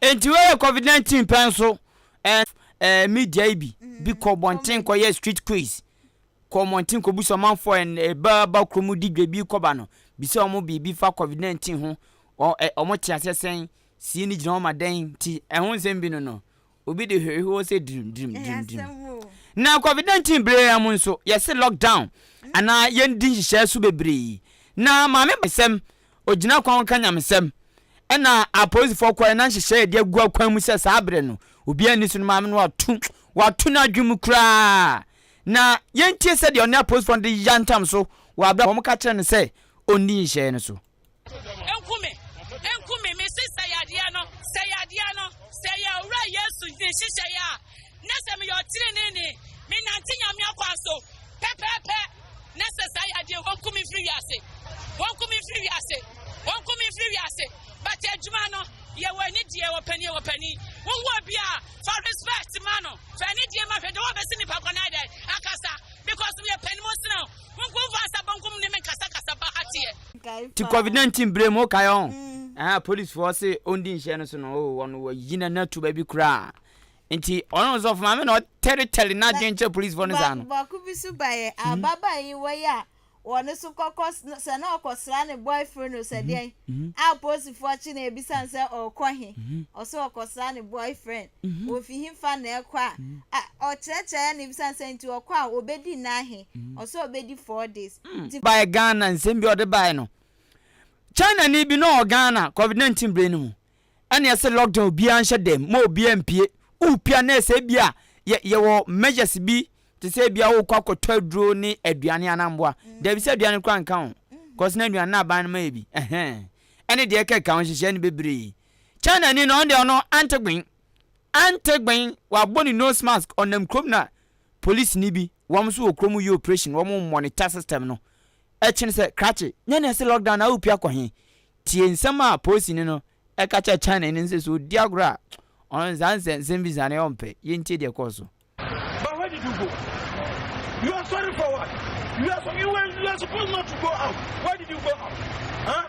Enti wei yɛ covid nineteen pɛ nso ɛɛ ɛɛ media yi bi bi kɔ bɔnten kɔ yɛ street quiz kɔ mmɔnten kɔ busa ɔmanfoɔ ɛn ɛbaa ba kurom di dwa bi kɔba no bisa wɔn biribi fa covid nineteen ho wɔ ɛ wɔn te aseɛ sɛn sie no gyina hɔ ma dɛn nti ɛho nsɛm bi no no obi de hwehwehwɛ sɛ dirim dirim dirim dirim na covid nineteen bere yɛn mu nso yɛse lockdown anaa yɛn di nhyehyɛɛ so bebree na maame bɛsɛm Ogyina kwan ka nyamesɛm. Ɛna apolisifɔ kɔɛ na nhyehyɛɛ yɛde agu akwan mu sɛ saa berɛ no obiara nni so no maame no wato wato n'adwene mu koraa. Na yɛntie sɛdeɛ ɔne apolisifɔ no de yantam so wɔ aberɛ a wɔn ka kyerɛ no sɛ ɔnni nhyehyɛɛ no so. Nku me, nku me, mese sɛe adeɛ no, sɛe adeɛ no, sɛe Awuraa Yesu nhyehyɛeɛ a Na sɛ meyɛ ɔteneneeni, menante Nyame akwan so pɛpɛɛpɛ, na sɛ saa yɛ adeɛ, wɔnku me mfiri wiase, wɔnku me mfiri wiase, wɔnku me mfiri wiase. But adwuma no, yɛ wɔ ani deɛ, wɔ pani, wɔ pani. Wohu obi a, fa respect ma no, fa ani deɛ ma hwɛ de wɔbɛsi nipa kɔ na dɛn akasa, because meyɛ pani mo sena o, monku mfa nsa bonkum ne me nkasakasa ba ha teɛ. Ti covid 19 bere mu wokae ɔn ɛha policefoɔ se ɔndi nhyɛ no so no oo wɔn wɔyi n'ani ato baabi koraa Nti ɔno ɔsɔfo maame na ɔtɛretɛre n'adwene kyerɛ polisifo no saa no. Baako bi so ba yɛ hmm? ababaa yi wɔ yɛ a wɔn so kɔkɔ sɛ na ɔkɔsra ne boyfriend no sɛ hmm? deɛn hmm? a polisifo akyi na ebisa sɛ ɔkɔ he ɔsɛ ɔkɔsra ne boyfriend ofi he fa na ɛkɔ a ɔkyerɛkyerɛ na ebisa sɛ nti ɔkɔ a obedi nnan he ɔsɛ obedi four days. Baɛ Ghana nsɛm bi ɔde baɛ no China ni bi na ɔwɔ Ghana covid nineteen bere no mu. ɛna ɛsɛ lockdown obiara nhyɛ dɛm ma obiara mpie wopie a na ɛsɛ ebia yɛ yɛwɔ measures bi te sɛ ebia wokɔ akɔtɔ aduro ne aduane anaa mmoa dabi sɛ aduane koraa nka ho kɔs na aduane no aban no ma yɛ bi ɛhɛn ɛne deɛ ɛka ɛka ho nhyehyɛ no bebree China ni na ɔno deɛ ɔno ante gben ante gben wabɔ ne nose mask ɔnam kurom na polisi ni bi wɔn nso wɔ kurom yi operation wɔn monitor system no Ɛkyene sɛ krakye. Nyɛ nea ɛse lockdown na wopue akɔ he? Tie nsɛm a polisini no ka kyerɛ Chinani no sɛ sɛ odi agorɔ a, ɔno saa nsɛnsɛm bi saa no ɔmpɛ. Yɛntie deɛ ɛkɔɔ so. But where did you go? You are sorry for what? You are, you were, you are supposed not to go out. Why did you go out? Huh?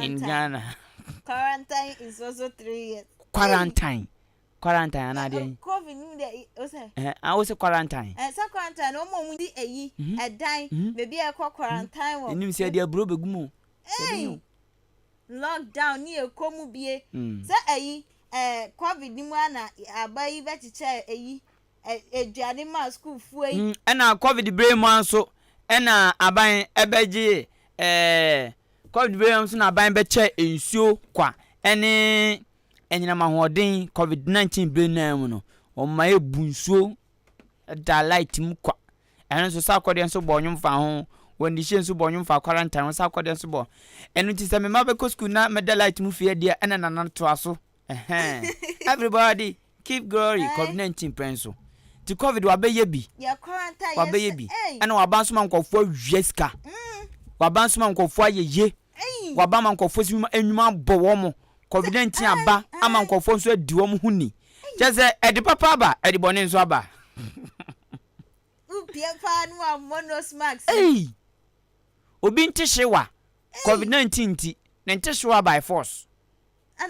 in Ghana. Quarantine is also three years. Quarantine. Quarantine ana adeɛ yi. Covid ni de o sɛ. Ɛɛ a o sɛ quarantine. Ɛɛ sɛ quarantine na wɔn mu di eyi ɛdan beebi a ɛkɔ quarantine wɔ. Enim sɛ ɛde aburo bɛ gu mu. Ɛyi lockdown ni ekɔ mu bie sɛ ɛyi ɛɛ Covid ni mu ana aba yi bɛ kyekyɛ ɛyi. aduane maa sukuufoɔ yi. Ɛna covid berɛ mu ara nso ɛna aban ɛbɛgyee ɛɛ covid berɛ mu ara nso na aban bɛkyɛɛ nsuo kwa ɛne anyinam ahoɔden covid 19 berɛ no ara mu no wɔn ma yɛbu nsuo ɛda light mu kwa ɛno nso saa akɔdeɛ nso bɔ ɔnwom fa ho wɔn de hyɛ nso bɔ ɔnwom fa quarantine wɔn saa akɔdeɛ nso bɔ ɛno nti sɛ mema bɛkɔ sukuu na mɛda light mu fie deɛ ɛna nana toa so. Ɛhɛn everybody keep glory covid nineteen pɛ nso nti covid wabɛyɛ bi wabɛyɛ bi ɛna waba nso ma nkɔfoɔ awia sika waba nso ma nkɔfoɔ ayɛ ye waba ma nkɔfoɔ si enyuma abɔ wɔn mo covid nineteen aba ama nkɔfoɔ nso adi wɔn ho ni kyɛ sɛ ɛde papa aba ɛde bɔne nso aba. Wopie paa no a mmɔ nose mask. Ei! Obi ntehyewa covid nineteen nti ne ntehyewa by force.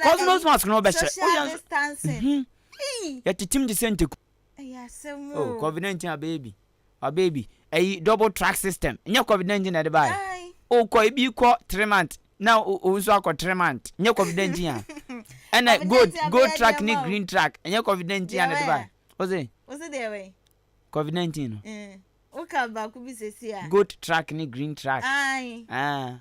Cosmos mask no bɛhyɛ wo yɛ nso yɛtetem te sɛ nteku oh covid 19 abɛyɛ bi abɛyɛ bi ɛyi double track system nyɛ covid 19 na ɛde baayɛ okɔ ebi kɔ three month na o nso akɔ three month nyɛ covid 19 a ɛna gold gold track ne green track nyɛ covid 19 a na ɛde baayɛ ɔsɛ ɔsɛ deɛ wɛn covid 19 no woka baako bi sɛsi a gold track ne green track ayi ah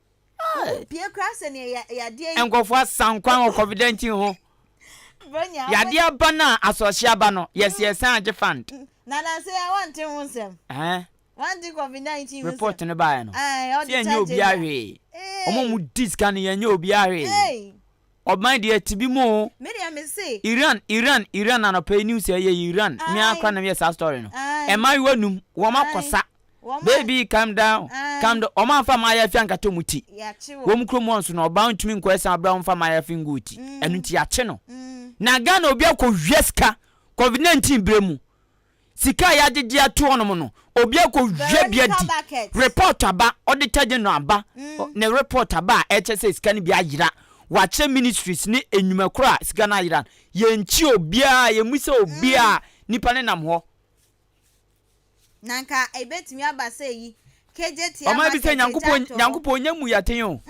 Nkorɔfoɔ asan kwan wɔ COVID-19 ho. Yadeɛ aba no a asoɔhye aba no, yɛse yɛsan agye fund. Ɛhɛɛ. Report no baeɛ no, se yɛnyɛ obiara hwee. Wɔn a wɔdi sika no, yɛnyɛ obiara hwee. Ɔbɛn deɛ te bi mu oo. Me deɛ me se. Iran Iran Iran anɔpa yi news ɛyɛ yi Iran me ara koraa na me yɛ saa story no ɛmaayewa num wɔn akɔ sa baby calm down calm down wɔn anfa maayafi ankata wɔn ti wɔn kurom hɔ nso no ɔbaa ntumi nkɔ ɛsan abira wɔn fa maayafi ngu wɔn ti ɛnu ti yakye no na Ghana obi akɔ wia sika covid 19 bere mu. Sika a yɛagye de ato hɔ nom no, obi akɔhwɛ bi adi, report aba, auditor general aba, ne report aba a ɛkyerɛ sɛ sika no bi ayera, wɔakyerɛ ministries ne nnwuma korɔ a sika no ayera no, yɛnkyi obiara, yɛmmisa obiara, nnipa no nam hɔ. Na anka ɛbɛtumi aba sɛ eyi Ɔman bi sɛ Nyankopɔn Nyankopɔn nyɛ mu yaten o.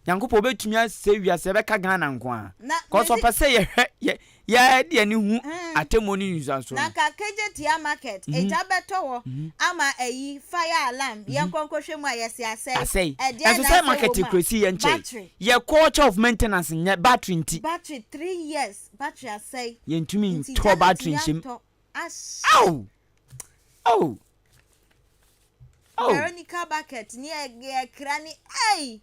Nyankopɔn obetumi asɛ wiase ɛbɛka Ghana nko a. Cause ɔpɛ sɛ yɛhwɛ yɛ yɛde yɛn ani hu atemmuo ne nnisansoɔ no. Na ka Kejetia market egya bɛtɔ hɔ ama ayi fire alarm yɛnkɔ nkɔhwɛ mu a yɛse asɛe. Asɛe. Ɛdeɛn Nso na sɛ asɛe market wɔ mu a? kurasi yɛn kyɛe. Battery. Yɛ culture of maintenance nyɛ battery nti. Battery three years battery asɛe. Yɛntumi Nti ntɔ gya no battery ntumi nhyɛ mu. antɔ Ash. Oh! Oh! Oh! Veronica bucket ni ɛ ɛkra ni ei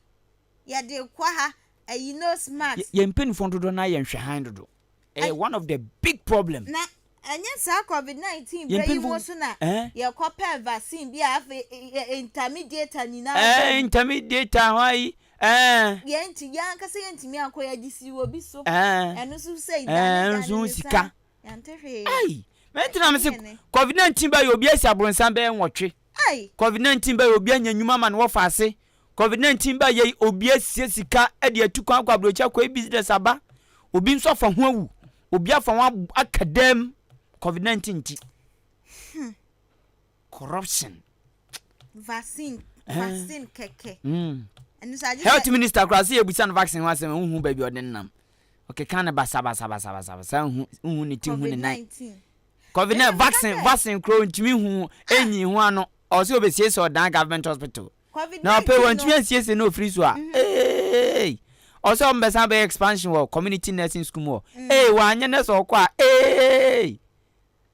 yɛde kɔ ha ɛyi nose mask. Yɛ yɛn mpanyinfoɔ dodoɔ naa yɛ nhwɛhan dodo ɛyɛ one of the big problem. Na ɛnyɛ saa covid nineteen bɛ yi mu so na yɛ kɔ pɛ vaccine bi a afei ɛ intermediator nyinaa bɛ mu. Ɛɛ intermediator hɔ ayi ɛɛ. Yɛn nti yɛn ankasa yɛn ntumi ankɔ yɛ de si obi so ɛno nso sɛ dane dane ne sa. Ɛɛ nso sika Yɛante hwee. Ei! Me nti na mese Yɛnte ne. covid 19 bɛyɛ obi asi abronsam bɛyɛ nwɔtwe. Ei! Covid 19 bɛyɛ obi anya nnwuma ama no wɔ faase. Covid 19 bɛyɛ obi asie sika de atu kwan akɔ aburokyire akɔyɛ business aba. Obi nso afa ho awu. Obi afa ho ab aka dam covid 19 nti. Corruption. Vaccine Eh. vaccine kɛkɛ. Mm. Ɛno so agye sɛ. Health minister koraa sɛ yɛbusa no vaccine ho asɛm a wonhu baabi a ɔde no nam. Ɔkeka no basabasabasabasa nhu nhu ne ti nhu ne nan. Covid nine vaccine vaccine kura ntumi nhu enyi ho ano ɔsɛ obesiesie ɔdan government hospital. Na ɔpɛ wɔn ntumi ansiesie na ofiri so a ee ɔsɛ wɔn bɛsan bɛyɛ expansion wɔ community nursing school mu hɔ ee wɔanyɛ nurse ɔkɔ a ee.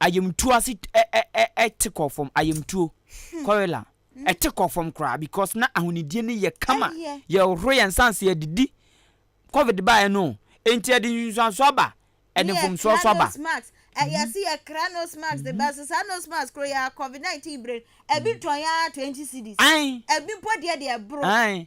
Ayamtuo ase te kɔ fam ayamtuo kɔrela ɛte kɔ fam koraa because na ahonidie no yɛ kama yɛ horo yɛn nsa ase yɛdidi covid baa yɛ no nti ɛde nsusuanso aba ɛde mfomsoɔ so aba. Yɛsi yɛ kra nose mask de bɛso saa nose mask koro yɛ covid 19 bere ɛbi tɔn yɛ ara 20 cedis ɛbi mpo deɛ deɛ ɛboro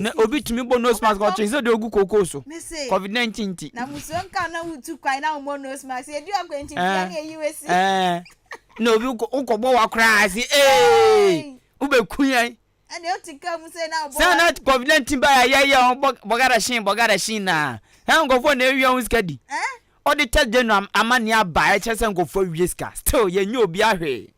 Na obi tumi bɔ nose mask a ɔkyerɛ sɛ deɛ ɔgu kookoo so covid 19 nti. Na musuo nka na wotu kwan na wɔmmɔ nose mask ɛdi akwankyinfia ne ɛyi wasi. Na obi wokɔbɔ wa koraa se ee wobɛku yɛn. Ɛne ɔte ka mu sɛ na ɔbɔ sɛ na covid 19 ba yɛ yɛ bɔgada hyen bɔgada hyen na ɛ nkɔfoɔ na ɛwia ho sika di ɔde test de no amanneɛ aba ɛkyɛ sɛ nkɔfoɔ wie sika still yɛnyɛ obi ahwee.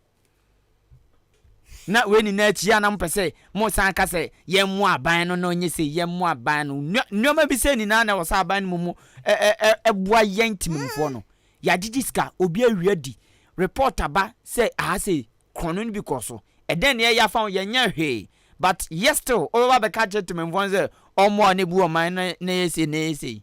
Na wei nyinaa akyi a na mopɛ sɛ mosan ka sɛ yɛmmoa aban no na ɔnyɛ sei, yɛmmoa aban no. Nneɛma bi sɛ nyinaa na ɛwɔ sɛ aban no mu mu ɛboa yɛn temmemfoɔ no. Yɛagyegye sika, obi awie adi, report aba sɛ aha sei, korɔno no bi kɔɔ so. Ɛdɛn na yɛyɛ afa ho? Yɛnyɛ hwee. But yet still, wobɛba abɛka akyerɛ temmemfoɔ no sɛ ɔmmoa na ɛbu ɔman no na ɛyɛ sei na ɛyɛ sei.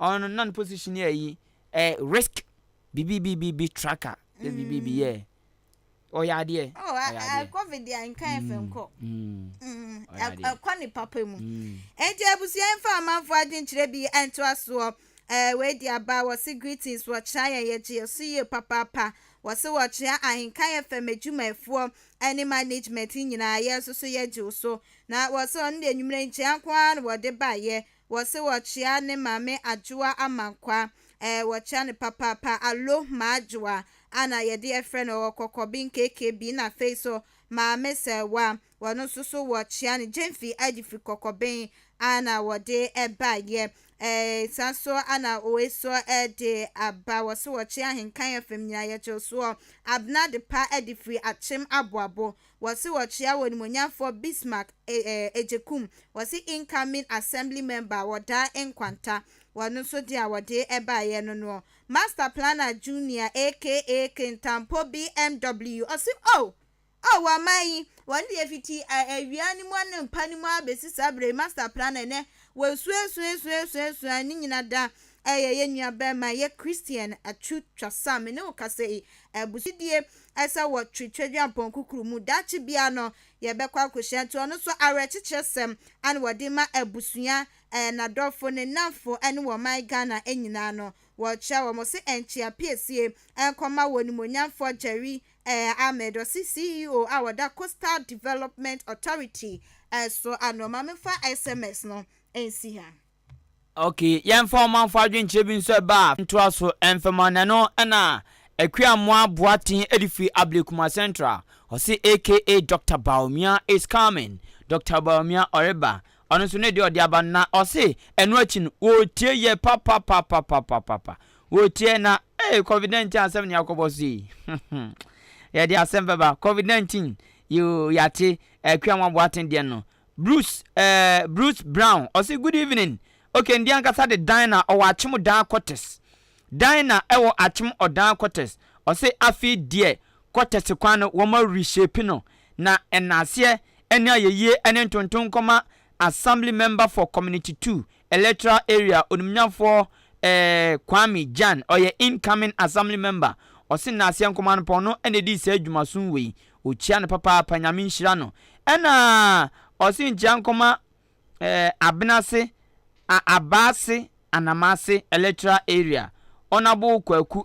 Ɔno no na ne position yɛ ayi, eh, risk bibibibibi tracker, sɛ bibibi yɛ. Ɔyɛ adeɛ. Oh, ɔyɛ eh, adeɛ. covid deɛ nka yɛ fɛ nkɔ. Ɛkɔ ne papa mu. Enti abusua mfa ɔmanfoɔ adwenkyerɛ bi ntoa soɔ. Eh, wei de aba, wɔse greetings, wɔkyea yɛn, yɛgye yɛn so yie papaapa. Wɔse wɔkyea ahenka yɛ fam adwumayɛfoɔ ne management nyinaa, yɛn nso so yɛgye wo so. Na wɔse ɔno deɛ anwummerɛ nkyea nko ara na wɔde baeɛ. Wɔse wɔkyea ne maame Adwoa Amankwa eh wɔkyea no papaapa Allo M'Adwoa a na yɛde ɛfrɛ no ɔwɔ Kɔkɔbe Nkekebe na afei nso Maame Sɛɛwa wɔno nso so wɔkyea no Gyemfi Adi firi Kɔkɔbe a na wɔde baeɛ eh saa nso a na wei nso de aba wɔse wɔkyea Ahenkan FM nyinaa yɛgye wo soɔ Abena Adepa Adi firi Akyem Aboabo Wɔse wɔkyea wɔnimonyamfoɔ Bismarck Agyekum, wɔse incoming Assembly member wɔdaa nkwanta, wɔno nso deɛ a wɔdee baeɛ no noɔ. Master planner Junior aka Kintampo BMW ɔse oh! Oh! Wɔ man yi, wɔn deɛ fiti awia no mu anɔpa no mu ara bɛsi saa berɛ yi, Master planner nɛ wɔasuasuasuasuasua ne nyina da Ɛyɛ yɛn nuabarima, yɛ Christian atu twa sa a me ne wo kasa yi. Abusua gyidie sɛ wɔ twi twadwampɔn kukuru mu. Daakye biara no yɛbɛkɔ akɔhyia nti ɔno nso awerɛkyekyerɛ sɛm na wɔde ma abusua, nadɔfo, ne nnamfo ne wɔ ɔman Ghana nyinaa no. Wɔkyerɛ wɔ mo se nkyea piesie nkɔma wɔ Nimuonyamfoɔ Jerry Ahmed, ɔse CEO a ɔda Coastal Development Authority so ano. Ma memfa sms no nsi ha. Ok, yɛmfa ɔmanfo adwenkyerɛ bi nso ɛba a ntoa so mfɛma na ɛno ɛna Akuamoah Boateng ɛde firi Ablekuma Central, ɔse aka Doctor Bawumia is coming, Doctor Bawumia ɔreba, ɔno nso ne deɛ ɔde aba no na ɔse ɛno akyi no wɔretie yɛ papapapapapapa, wɔretie na ee covid 19 asɛm na yɛakɔbɔ so yi yɛde asɛm bɛba covid 19 yoo yɛate Akuamoah Boateng deɛ no Bruce eh Bruce Brown ɔse good evening okay ndi ankasa de dan na ɔwɔ akyem odaa kɔtes dan na ɛwɔ akyem ɔdaa kɔtes ɔse afei diɛ kɔtese kwan no wɔma reshape no na ɛnaaseɛ ɛne ayɛyie ɛne ntonton nkɔma assembly member for community two Electoral area onimnyafoɔ eh Kwame Gyan ɔyɛ incoming assembly member ɔse Naaseɛ Nkomanpɔn no na ɛdii saa dwumason wei ɔkyia no papaapa Nyame nhyira no ɛna ɔse nkyia nkɔma eh Abenase a Abaase Anamase Electoral area Honourable Kwaku